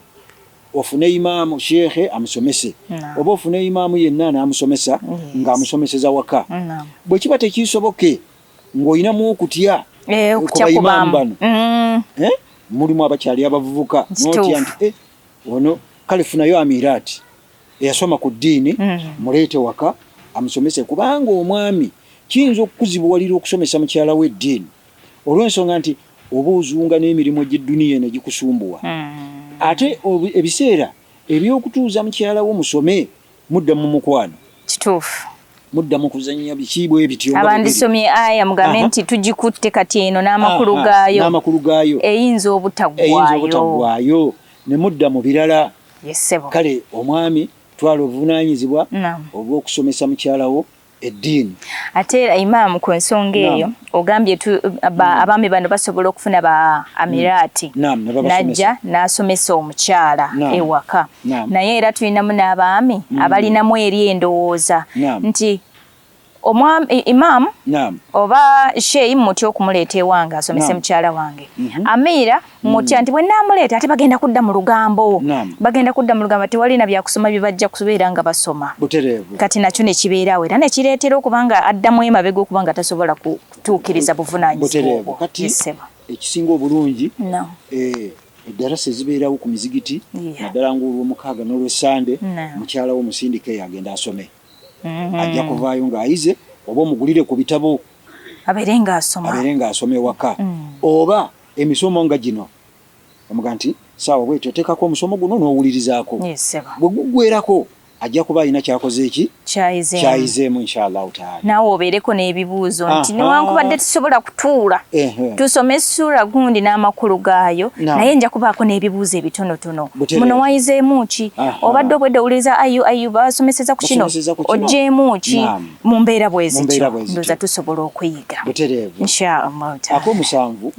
ofune imaamu sheekhe amusomese oba ofune imaamu yenna n'amusomesa ng'amusomeseza waka bwe kiba tekisoboke ng'olinamu okutya eh, ku baimaamu bano mm. eh, mulimu abakyali abavubuka notya nti Ono kale funayo Amirati eyasoma ku ddiini mm. muleete waka amusomese, kubanga omwami kiyinza okukuzibuwalira okusomesa mukyala we eddiini olw'ensonga nti oba ozunga n'emirimu egy'edduniya eno egikusumbuwa mm. ate ebiseera ebyokutuuza mukyala wo musome Mudda mu mukwano. Kituufu. Mudda mu kuzannya biki bwe bityo. Abandisomye aya mugambe nti tugikutte kati eno n'amakulu gaayo. N'amakulu gaayo. Eyinza obutaggwayo. Eyinza obutaggwayo. Ne mudda mu birala. Yes, sebo. Kale omwami twala obuvunaanyizibwa obw'okusomesa mukyala wo. eddiini ate era imaamu ku nsonga eyo ogambye tu hmm. abaami bano basobola okufuna ba amiraati hmm. najja n'asomesa omukyala ewaka naye era tulinamu n'abaami hmm. abalinamu eri endowooza nti imaamu oba sheyi mutya okumuleeta ewange asomese mukyala wange mhm. amiira mutya nti bwe naamuleeta ate bagenda kudda mu lugambo bagenda kudda mu lugambo tewalina byakusoma bye bajja kubeera nga basoma kati nakyo ne kibeerawo era ne kireetera okuba nga addamu emabega okuba nga tasobola kutuukiriza buvunaanyizibwa ekisinga obulungi eh, eddarasa ezibeerawo ku mizigiti naddala ng'olwomukaaga n'olwesande mukyala wo musindika eyo agenda asome mm-hmm. ajja kuvaayo ng'ayize oba omugulire ku bitabo abeere ng'asoma abeere ng'asoma ewaka mm. oba Emisomo nga gino omuga nti saawa bwetyo oteekako omusomo guno n'owulirizaako bwe guggwerako ajja kuba alina kyakoze eki kyayizeemu inshallahu taala naawe obeereko n'ebibuuzo nti newankubadde tusobola kutuula tusome essuula gundi n'amakulu gaayo naye nja kubaako n'ebibuuzo ebitonotono muno wayizeemu ki obadde obwedde owuliriza ayu ayuba wasomeseza ku kino oggyeemu ki mu mbeera bwezityo ndoza tusobola okuyiga butereevu inshaallah ak'omusanvu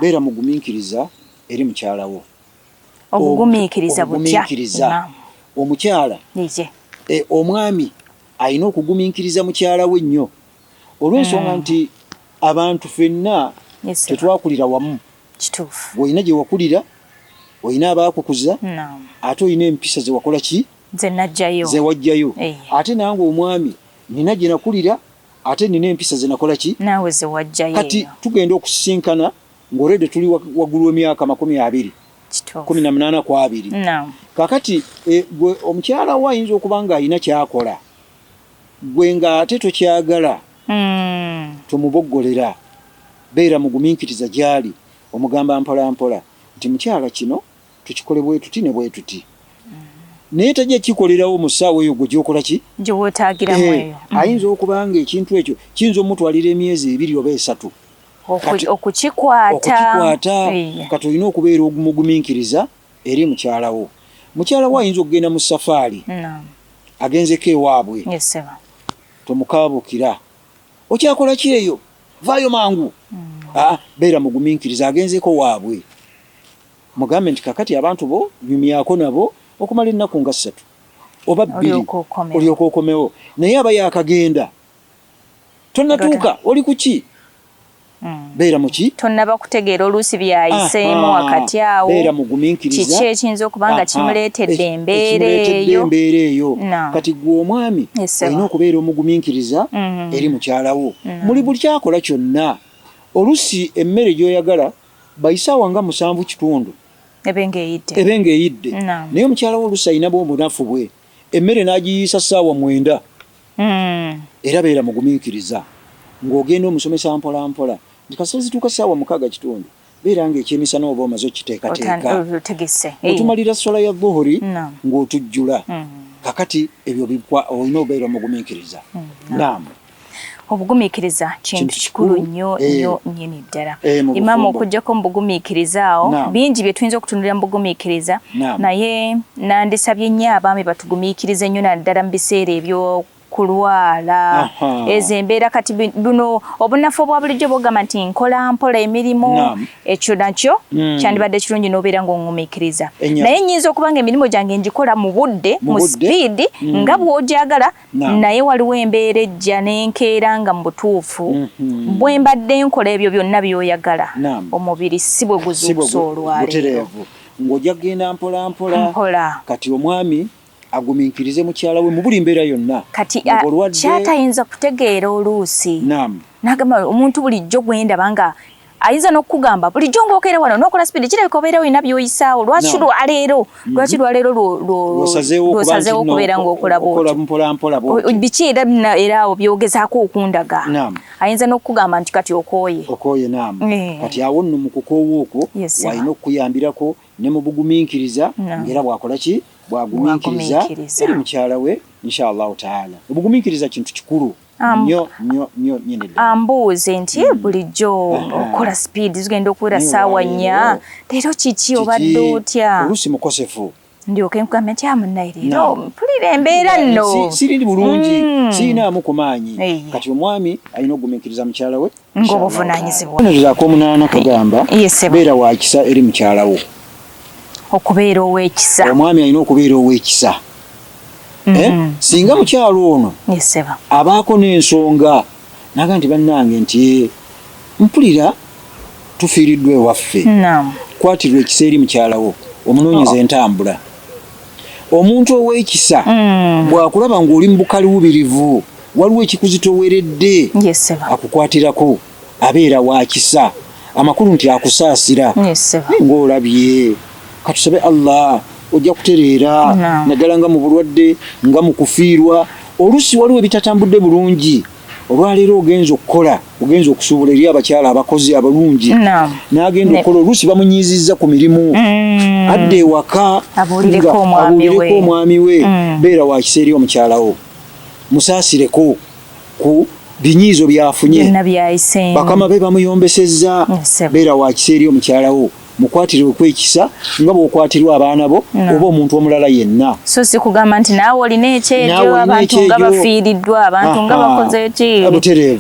beera mugumiikiriza eri mukyala wo obugumiikiriza butya omukyala e, omwami alina okugumiikiriza mukyala we nnyo olw'ensonga mm. nti abantu fenna tetwakulira wamu kituufu olina gye wakulira olina abaakukuza ate olina empisa ze wakola ki zewajjayo eh. ate nange omwami nina gyenakulira ate nina empisa zenakola ki kati tugenda okusisinkana ngaolede tuli waggulu wemyaka makumi abiri kumi na munaana ku abiri kakati eh, gwe omukyala wo ayinza okuba nga alina kyakola gwe nga ate tokyagala hmm. tomuboggolera beera muguminkiriza gyali omugamba mpolampola nti mukyala kino tukikole bwetuti ne bwetuti naye tajja kikolerawo mu ssaawa eyo gwe gyokola ki gyewotaagiramu eh, eyo mm. ayinza okuba nga ekintu ekyo kiyinza omutwalira emyezi ebiri oba esatu okukikwata kati olina okubeera ogumugumiikiriza eri mukyalawo mukyalawo ayinza okugenda mu safaari agenzeko ewaabwe tomukaabukira okyakola ki eyo vaayo mangu mm. ah, beera mugumiikiriza agenzeko waabwe Mugambe nti, Kaakati abantu bo nyumyako nabo okumala ennaku nga ssatu oba bbiri, olyoke okomewo. Naye aba yaakagenda, tonnatuuka. Oli ku ki? Beera mu ki? Tonnaba kutegeera oluusi by'ayiseemu wakati awo, kiki ekiyinza okuba nga kimuleetedde embeera eyo. Kati ggwe omwami olina okubeera omugumiikiriza eri mukyala wo muli buli ky'akola kyonna. Oluusi emmere gy'oyagala bayise awa nga musanvu kitundu ebe ng'eyidde ebe ng'eyidde naye omukyala wo oluusi alina bwo obunafu bwe emmere n'agiyiisa ssaawa mwenda hmm. era beera mugumiikiriza ng'ogenda omusomesa mpola mpola nti kasita zituuka ssaawa mukaaga kitundu beera ng'ekyemisana oba omaze okiteekateeka otumalira sola ya dhuhuri ng'otujjula hmm. kakati ebyo olina obeera omugumiikiriza hmm. naamu obugumiikiriza kintu kikulu nnyo eh. nnyo nnyini ddala eh, imaamu okujjako mu bugumiikiriza awo bingi bye tuyinza okutunulira mu bugumiikiriza naye nandisabye nnyo abaami batugumiikirize nnyo naddala mu biseera ebyo kulwala ezo embeera kati buno obunafu obwa bulijjo bogamba nti nkola mpola emirimu ekyo nakyo hmm. kyandibadde kirungi n'obeera ng'oŋumikiriza naye nyinza okuba nga emirimu gyange ngikola mu budde mu sipiidi hmm. nga bw'ogyagala naye waliwo embeera ejja nenkeera nga mubutuufu mhm. bwe mbadde nkola ebyo byonna byoyagala omubiri si bwe guzuukusa olwaleero ng'ojja kugenda mpolampola kati omwami agumiikirize mukyala we mu buli mbeera yonna kati kyatayinza kutegeera oluusi nagamba omuntu bulijjo gwendaba nga ayinza n'okukugamba bulijjo ng'okeera wano n'okola sipidi kirabika obeera olina by'oyisaawo lwaki lwaleero mm-hmm. lwaki lwaleero lwosazeewo okubeera ng'okola bwotibiki era era awo byogezaako okundaga ayinza n'okukugamba nti kati okooye okooye naamu eh. kati awo nno mu kukoowa okwo walina okukuyambirako ne mu bugumiikiriza ng'era bwakola ki bwagumiikiriza eri mukyala we inshallahu taala obugumiikiriza kintu kikulu nyo nyo nyo nyini ddala ambuuze nti mm. bulijjo okola speed zigenda okuwera saawa nnya leero kiki obadde otya oluusi mukosefu ndyoke nkugambe nti amunaye ah, leero mpulira embeera nno sirindi bulungi mm. sirinaamu ku maanyi kati omwami alina okugumiikiriza mukyala we ng'obuvunaanyizibwa. Akabonero ak'omunaana kagamba beera wa kisa eri mukyala wo. Okubeera ow'ekisa. Omwami alina okubeera ow'ekisa. Mm. Eh? Singa mukyalo ono abaako n'ensonga naga nti bannange nti eh, mpulira tufiiriddwa ewaffe, kwatirwa ekisa eri mukyala wo, omunoonyeza oh. entambula. Omuntu ow'ekisa mm. bw'akulaba ng'oli mu bukaliwubirivu waliwo ekikuzitoweredde akukwatirako abeera wakisa amakulu nti akusaasira ng'olabye katusabe allah ojja kutereera naddala nga mu bulwadde nga mu kufiirwa oluusi waliwo ebitatambudde bulungi olwaleero ogenza okukola ogenza okusuubula eri abakyala abakozi abalungi n'agenda okukola oluusi bamunyiizizza ku mirimu mm. adda ewaka abuulireko omwami we mm. beera wakisa eri omukyalawo musaasireko ku binyiizo byafunye bakama be bamuyombesezza beera wa kisa eri omukyala wo mukwatire okwekisa nga bwokwatirwa abaana bo oba omuntu omulala yenna so si kugamba nti naawe olina ekyejo abantu nga bafiiriddwa abantu nga bakoze ki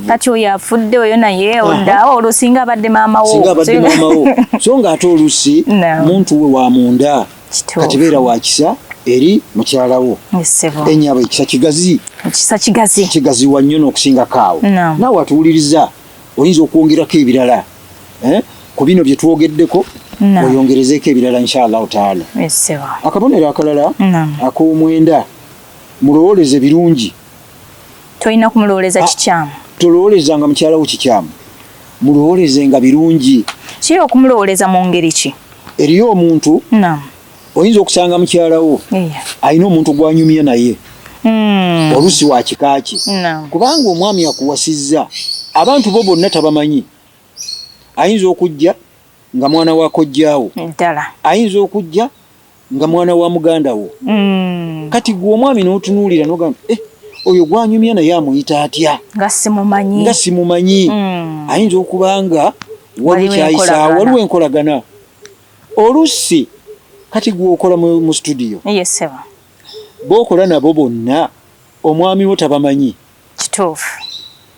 kati oyo afudde oyo naye oddaawo olwo singa abadde maama wo so nga ate oluusi muntu we wa munda kati beera wa kisa eri mukyala wo enyabo ekisa kigazi ekisa kigazi kigazi wa nnyo n'okusingako awo naawe atuwuliriza oyinza okwongerako ebirala eh? ku bino bye twogeddeko oyongerezeeko ebirala inshallahu taala akabonero akalala ak'omwenda mulowooleze birungi tolina kumulowooleza ah, kikyamu tolowoolezanga mukyala wo kikyamu mulowoolezenga birungi kiri okumulowooleza mu ngeri ki eriyo omuntu oyinza okusanga mukyala wo alina omuntu gwanyumya naye hmm. oluusi wa kika kye kubanga omwami akuwasizza abantu bo bonna tabamanyi ayinza okujja nga mwana wakojjaawo ayinza okujja nga mwana wa muganda wo mm. kati gwe omwami n'otunuulira nogamba eh, oyo gwanyumya naye amuyita atya nga simumanyi nga simumanyi mm. ayinza okuba nga waliwo kyayisaawo waliwo enkolagana olusi kati gwokola mu studio bokola nabo bonna omwami wo tabamanyi Kituufu.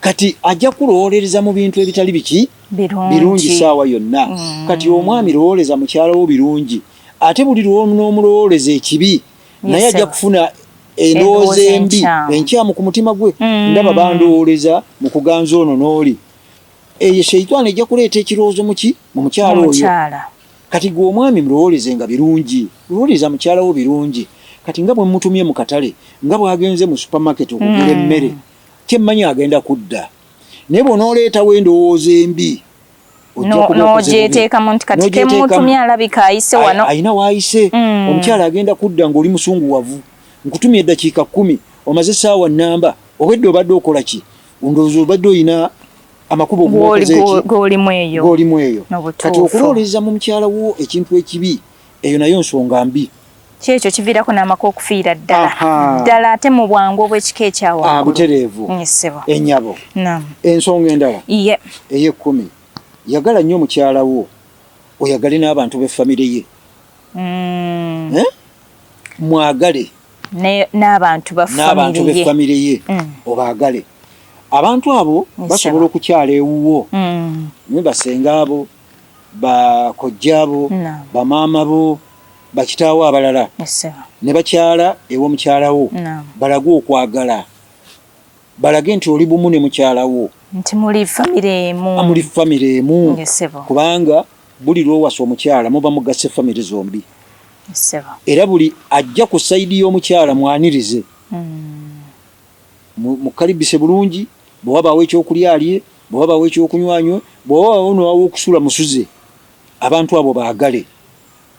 Kati ajja kulowolereza mu bintu ebitali biki birungi saawa yonna. Mm. Kati omwami lowoleza mukyala wo birungi, ate buli lwonoomulowoleza ekibi naye ajja kufuna endowooza embi enkyamu ku mutima gwe. Mm. Ndaba bandowoleza mu kuganza ono n'oli, eyo sheitaani ejja kuleeta ekirowoozo muki mu mukyala oyo. Kati gwe omwami mlowoolezenga birungi, lowooleza mukyala wo birungi. Kati nga bwe mmutumye mu katale, nga bw'agenze mu supamaketi okugula hmm. emmere, kye mmanyi agenda kudda. Naye bw'onooleetawo endowooza embi, n'ogyeteekamu nti kati ke mmutumye alabika ayise wano. Alina w'ayise. Hmm. Omukyala agenda kudda ng'oli musunguwavu. Nkutumye eddakiika kkumi, omaze essaawa nnamba, obwedda obadde okola ki? Ndowooza obadde olina amakubo golimu eyo golimu eyo kati okulooleza mu mukyala wo ekintu ekibi eyo nayo nsonga mbi kyekyo kiviirako n'amaka okufiira ddala ddala ate mu bwangu obw'ekika ekyawabutereevu ah, enyabo ensonga endala ey'ekkumi yagala nnyo mukyala wo oyagale n'abantu b'effamire ye mm. eh? mwagale n'abantu ba famire ye mm. obaagale abantu abo basobola okukyala ewuwo mm. naye basenga abo bakojja abo bamaama bo bakitaawo abalala ne bakyala ew'omukyalawo balage okwagala balage nti oli bumu ne mukyala wo nti muli famire emu muli famire emu kubanga buli lwowasa omukyala muba mugasse famire zombi era buli ajja ku sayidi y'omukyala mwanirize hmm. mukalibise bulungi bwewabaawo ekyokulya alye bwewabaawo ekyokunywanywe bwewabaawo nowawo okusula musuze abantu abo baagale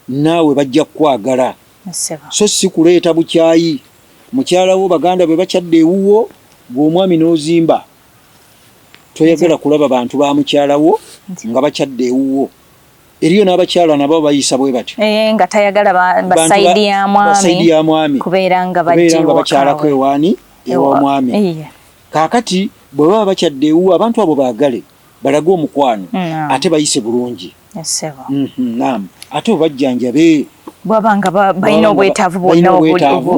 Naawe bajja kukwagala so si kuleeta bukyayi. Mukyala wo baganda be bakyadde ewuwo gwe omwami n'ozimba. Toyagala kulaba bantu ba mukyala wo nga bakyadde ewuwo. Eriyo n'abakyala nabo bayisa bwe batyo eh, nga tayagala basayidi ya mwami kubeera nga bakyalako ewaani ew'omwami. Kaakati bwe baba bakyadde ewuwo abantu abo baagale. balage omukwano ate bayise bulungi mhm, nam ate obajjanjabe bwaba nga balina obwetaavu bwonna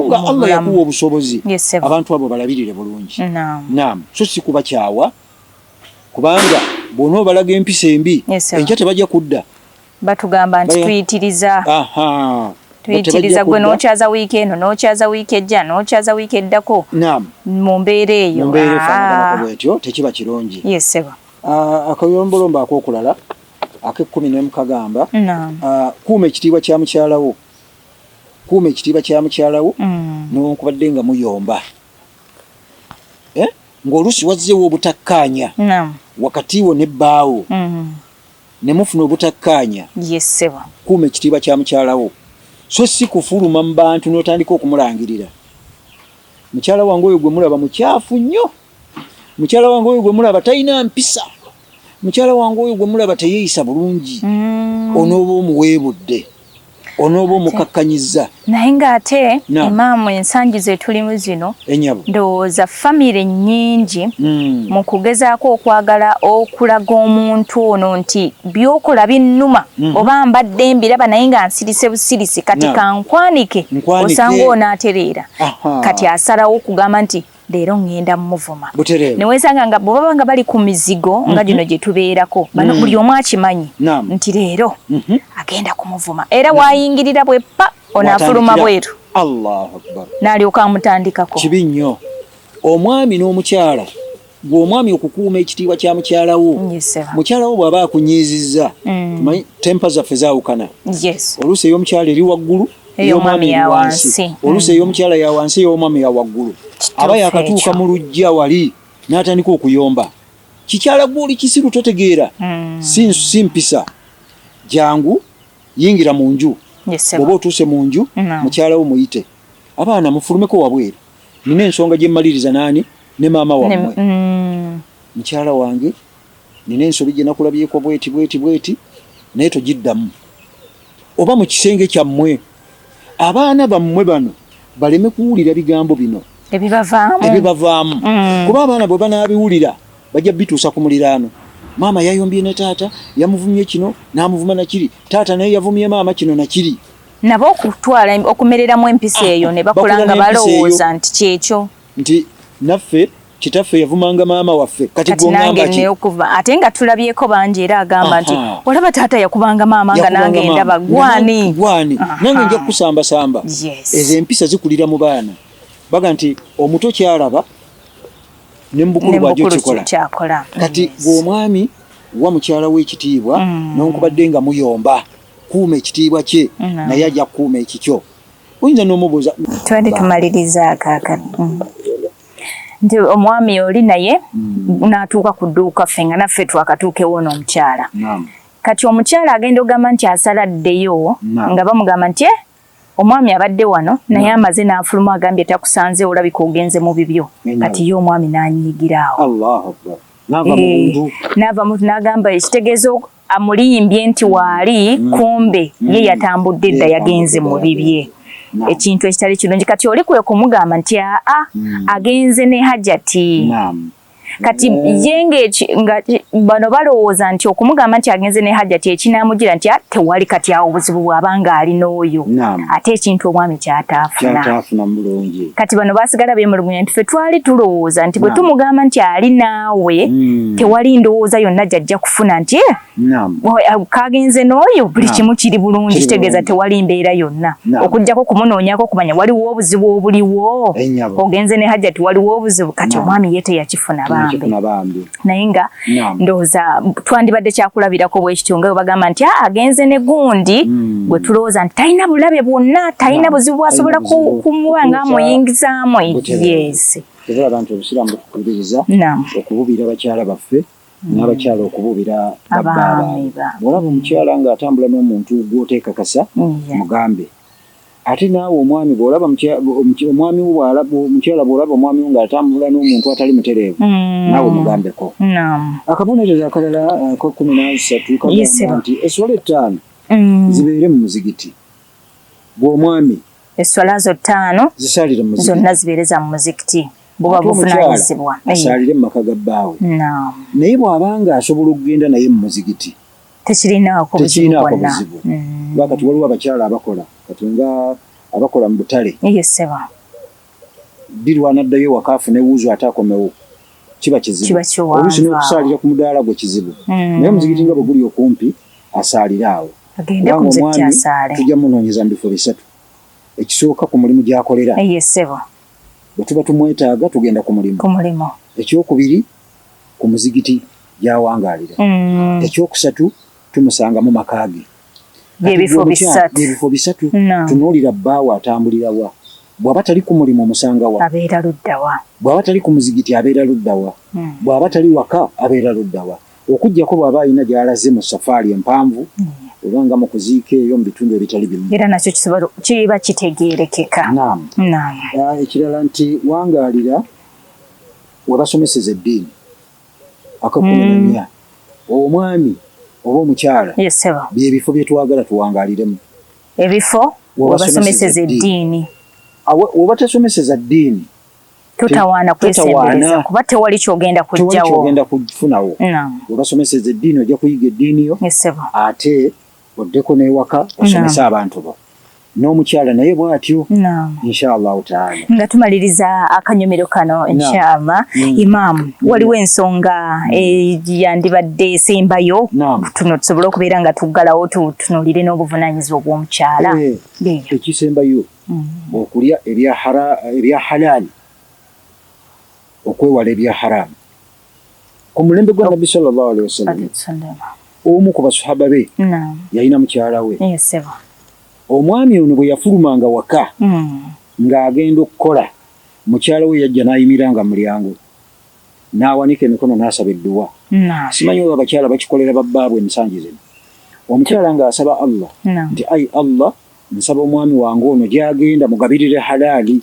nga allah yakuwa obusobozi abantu abo balabirire bulungi nam so si kubakyawa kubanga bwona obalaga empisa embi enkya tebajja kudda batugamba nti tuyitiriza tuyitiriza gwe nokyaza wiiki eno nokyaza wiiki ejja nokyaza wiiki eddako mu mbeera eyo ah. bwetyo tekiba kirungi yeseba ah, akoyombolombo akokulala akekumi nemukagamba ah, kuuma ekitiibwa kya mukyalawo kuuma ekitiibwa kya mukyalawo mm. nonkubadde nga muyomba eh? ngaolusi wazzewo obutakkaanya wakati wo ne bbaawo mm. ne mufuna obutakkaanya, kuuma ekitiibwa kya mukyala wo so si kufuluma mu bantu n'otandika okumulangirira. Mukyala wange oyo gwe mulaba mukyafu nnyo, mukyala wange oyo gwe mulaba talina mpisa, mukyala wange oyo gwe mulaba teyeeyisa bulungi, mm. onooba omuweebudde. onooba omukakkanyiza naye ng'ate emaamu ensangi zetulimu zino ndowooza famire nnyingi hmm. mu kugezaako okwagala okulaga omuntu ono nti byokola binnuma hmm. oba mbadde mbiraba naye nga nsirise busirisi kati kankwanike osanga onaatereera kati asalawo okugamba nti leero ŋŋenda muvuma ne wensanga nga bwe baba nga bali ku mizigo nga mhm. gino gye tubeerako bano mm. buli omu akimanyi nti leero mhm. agenda kumuvuma era waayingirira bwe pa onaafuluma bweru n'alyoka amutandikako kibi nnyo omwami n'omukyala gwe omwami okukuuma ekitiibwa kya mukyala wo mukyala wo bw'aba akunyiizizza mm. tempa zaffe zaawukana oluusi ey'omukyala eri waggulu ey'omwami ya wansi oluusi ey'omukyala ya wansi ey'omwami ya waggulu aba yakatuuka mu lujja wali n'atandika okuyomba kikyala gwe oli kisiru totegeera hmm. si mpisa jangu yingira mu nju oba otuuse mu nju mukyala wo muyite abaana mufulumeko wabweru nina ensonga gye mmaliriza naani ne maama wammwe hmm. mukyala wange Nina ensobi gye nakulabyeko bweti bweti bweti, naye togiddamu. Oba mu kisenge kyammwe abaana bammwe bano baleme kuwulira bigambo bino ebibavaamu ebibavaamu mm. kuba abaana bwe banaabiwulira bajja bituusa ku muliraano maama yayombye ne taata yamuvumye kino n'amuvuma nakiri taata naye yavumye maama kino nakiri nabo okutwala okumereramu empisa eyo ne bakula nga balowooza nti kyekyo nti naffe kitaffe yavumanga maama waffe kati gwongamba ki okuva ate nga tulabyeko bangi era agamba nti olaba taata yakubanga maama nga nange ndaba gwani gwani nange nja kusamba samba yes. ezo empisa zikulira mu baana baga nti omuto kyalaba ne mubukulu bwajo kikola kati gwomwami wa mukyala we ekitiibwa mm. nonkubadde nga muyomba kuuma ekitiibwa kye mm. naye ajja kukuuma ekikyo oyinza nomubuuza twali tumaliriza akakati mm. nti omwami oli naye mm. natuuka ku dduuka ffe nga naffe twakatuukewo n'omukyala kati omukyala agenda ogamba nti asala ddeyo nga bamugamba nti eh, omwami abadde wano naye amaze n'afulumu agambye takusanze olabika ogenze mu bibyo kati ye omwami n'anyigiraawo n'ava mu eh, n'agamba ekitegeeza amulimbye nti waali mm. kumbe mm. ye yatambudde edda yagenze mu bibye ekintu ekitali kirungi kati oli kwe kumugamba nti aa mm. agenze ne hajati kati ye nga bano balowooza nti okumugamba nti agenze ne hajati ekinaamujira nti tewali kati awo obuzibu bw'aba ng'ali n'oyo ate ekintu omwami kyataafuna kati bano basigala bemulugunya nti fe twali tulowooza nti bwe tumugamba nti ali naawe mm. tewali ndowooza yonna gyajja kufuna nti eh, eh, kagenze n'oyo buli kimu kiri bulungi kitegeeza tewali mbeera yonna okujjako kumunoonyako okumanya waliwo obuzibu obuliwo eh, ogenze ne hajjati waliwo obuzibu kati omwami ye teyakifuna bambi naye nga ndowooza twandibadde kyakulabirako bwekityo nga webagamba nti ah, agenze ne gundi hmm. gwe tulowooza nti talina bulabe bwonna talina buzibu bwasobola kumuwa nga amuyingizaamu yesi tebulaba nti obusiraamu butukubiriza okububiira bakyala baffe hmm. n'abakyala okubuubira babbaabwe olaba omukyala ng'atambula n'omuntu gw'oteekakasa mugambe Ate naawe omwami bw'olaba omwami wo bw'alaba omukyala bw'olaba omwami wo ng'atambula n'omuntu atali mutereevu mm. naawe mugambeko. Akabonerezo akalala ak'ekkumi uh, n'asatu kagamba nti esswala ettaano mm. zibeere mu muzigiti gw'omwami. Esswala zo ttaano zonna zibeere za mu muzikiti. buba buvunaanyizibwa asaalire mu maka ga bbaawe naye bw'aba nga asobola okugenda naye mu muzigiti tekirinaako buzibu mm. lwa kati waliwo abakyala abakola kati nga abakola mu butale yeseba birwana ddayo ewaka afune wuuzu ate akomewo kiba kizibu oluusi n'okusaalira ku mudaala gwe kizibu mm. naye omuzikiti nga bwe guli okumpi asaalire awo kubanga omwami tujja munoonyeza mu bifo bisatu ekisooka ku mulimu gy'akolera bwe tuba tumwetaaga tugenda ku mulimu ekyokubiri ku muzigiti gy'awangaalira. Ekyokusatu, tumusanga mu maka ge. Kati ggwe By'ebifo omukyala, bisatu. by'ebifo bisatu. Naam. Tunuulira bbaawo atambulira wa? Bw'aba tali ku mulimu omusanga wa? Abeera ludda wa? Bw'aba tali ku muzigiti abeera ludda wa? Mm. Bw'aba tali waka abeera ludda wa? Okuggyako bw'aba alina gy'alaze mu safaali empanvu oba nga mu kuziika eyo mu bitundu ebitali bimu. Era nakyo kisobola kiba kitegeerekeka. Naam. Naam. Ah, Ekirala nti wangaalira we basomeseza eddiini aka kumi na nnya mm. omwami oba omukyala byebifo bye twagala tuwangaliremu ebifo we basomeseza eddiini oba tesomeseza ddiini totawaana kwesembereza kuba tewali kyogenda kujjawo kufunawo we basomeseza eddiini ojja kuyiga eddiini yo ate oddeko n'ewaka osomese abantu bo n'omukyala naye bw'atyo inshaallahu taala nga tumaliriza akanyomero kano inshaallah mm. imaamu mm. waliwo ensonga eh, yandibadde esembayo tuno tusobole okubeera nga tuggalawo tutunulire n'obuvunaanyizibwa bw'omukyala eh, ekisembayo mm. okulya ebya halaali okwewala ebya haraamu ku mulembe gwa nabbi sallallahu alaihi wasallam omu ku basahaba be yalina mukyala we omwami ono bwe yafulumanga waka hmm. ng'agenda okukola mukyala we yajja n'ayimiranga mulyango n'awanika emikono n'asaba edduwa simanyi oba abakyala bakikolera babbaabwe emisangi zino omukyala ng'asaba allah nti ai allah nsaba omwami wange ono gy'agenda mugabirire halaali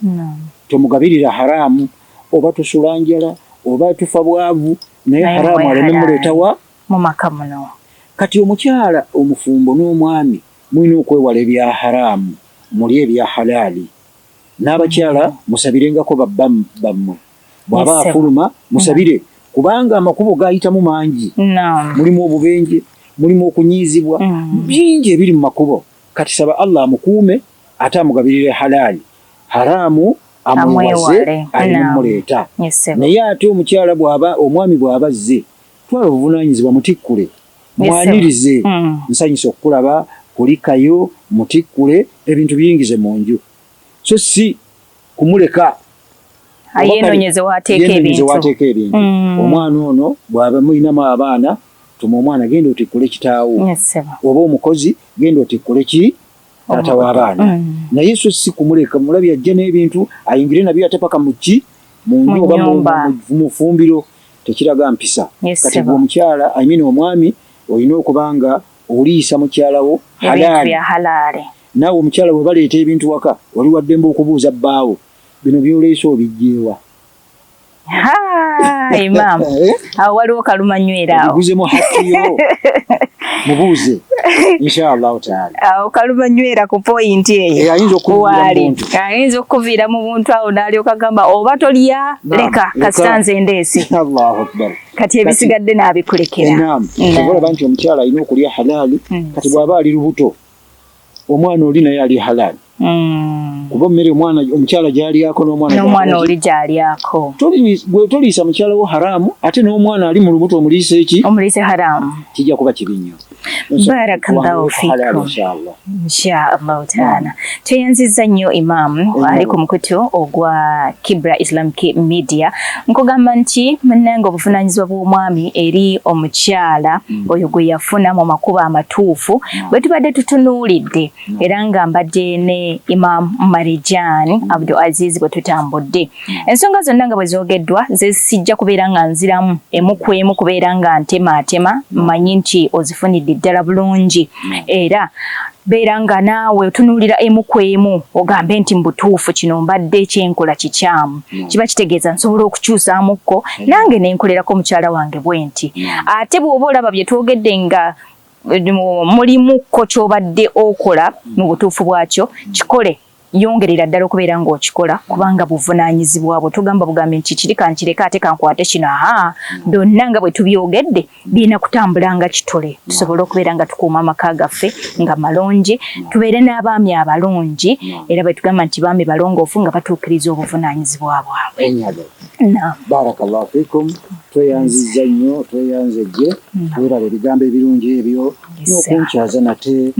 tomugabirira haraamu oba tusula njala oba tufa bwavu naye haramu aleme muleetawa mu maka muno kati omukyala omufumbo n'omwami mulina okwewala ebya haramu muli ebya halaali n'abakyala mm. musabirengako babba bammwe bw'aba afuluma musabire mm. kubanga amakubo gayitamu mangi mulimu obubenje mulimu okunyiizibwa mm. bingi ebiri mu makubo kati saba allah amukuume ate amugabirire halaali haraamu amwewaze alimuleeta naye ate omukyala bwaba omwami bw'aba azze twala obuvunaanyizibwa mutikkule mwanirize hmm. nsanyusa okukulaba kulikayo mutikkule ebintu biyingize mu nju so si kumuleka yenonyeze wateeka ebintu hmm. omwana ono bwaba mulinamu abaana tuma omwana genda otikkule kitaawo oba omukozi genda otikkule ki taata w'abaana mm. naye so si kumuleka mulabi ajja n'ebintu ayingire nabyo ate paka mu ki mu nju oba mu fumbiro tekiraga mpisa kati gwe omukyala amina omwami olina okuba nga oliisa mukyalawo halaali naawe omukyala bwe baleeta ebintu waka wali waddembe okubuuza bbaawo bino byoleese obijjeewa Imam eh? awo waliwo kaluma nywera awo buzemu hakiyo mubuuze inshallah taala awo kaluma nywera ku point eyo eh, ayinza okuwali ayinza okuviira mu buntu awo nalyoka gamba oba tolya leka kasita nze ndeese Allahu akbar kati ebisigadde nabikulekera naam olaba nti omukyala alina okulya halaali hmm. kati bwaba ali lubuto omwana oli naye ali halali mm. kuba mmere omwana omukyala gyalyako nomwana oli gyalyako gwe toliisa mukyala wo haramu ate n'omwana ali mu lubuto omuliisa eki omuliise haramu kijja kuba kibi nnyo barakallahu fikum inshaallahu taala tweyanziza nnyo imaamu ali ku mukutu ogwa kibra islamic media nkugamba nti munange obuvunanyizibwa bw'omwami eri omukyala mm. oyo gwe yafuna mu makubo amatuufu bwe tubadde tutunuulidde era nga mbadde ne Imam Marijan Abdul Aziz bwe tutambudde ensonga zonna nga bwe zoogeddwa zesijja kubeera nga nziramu emu ku emu kubeera nga ntemaatema mmanyi nti ozifunidde ddala bulungi era beera nga naawe otunuulira emu ku emu ogambe nti mubutuufu kino mbadde ekyenkola kikyamu mm. kiba kitegeeza nsobola okukyusaamukko mm. nange nenkolerako mukyala wange bwe nti mm. ate bw'oba olaba bye twogedde nga mulimukko kyobadde okola mu butuufu bwakyo kikole yongerera ddala okubeera ng'okikola kubanga buvunaanyizibwa bwo tugamba bugambi nti kiri kankireke ate kankwate kino aha byonna nga bwe tubyogedde birina kutambula nga kitole tusobole okubeera nga tukuuma amaka gaffe nga malungi tubeere n'abaami abalungi era bwe tugamba nti baami balongoofu nga batuukiriza obuvunaanyizibwa bwabwe barakallahu fikum tweyanziza nnyo tweyanze gye weeraba ebigambo ebirungi ebyo n'okunkyaza nate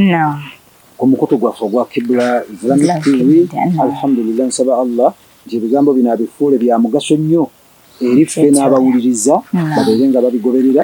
ku mukutu gwaffe ogwa kibula islamic tv alhamdulillah nsaba allah nti ebigambo bino abifuule bya mugaso nnyo eri ffe n'abawuliriza babeere nga babigoberera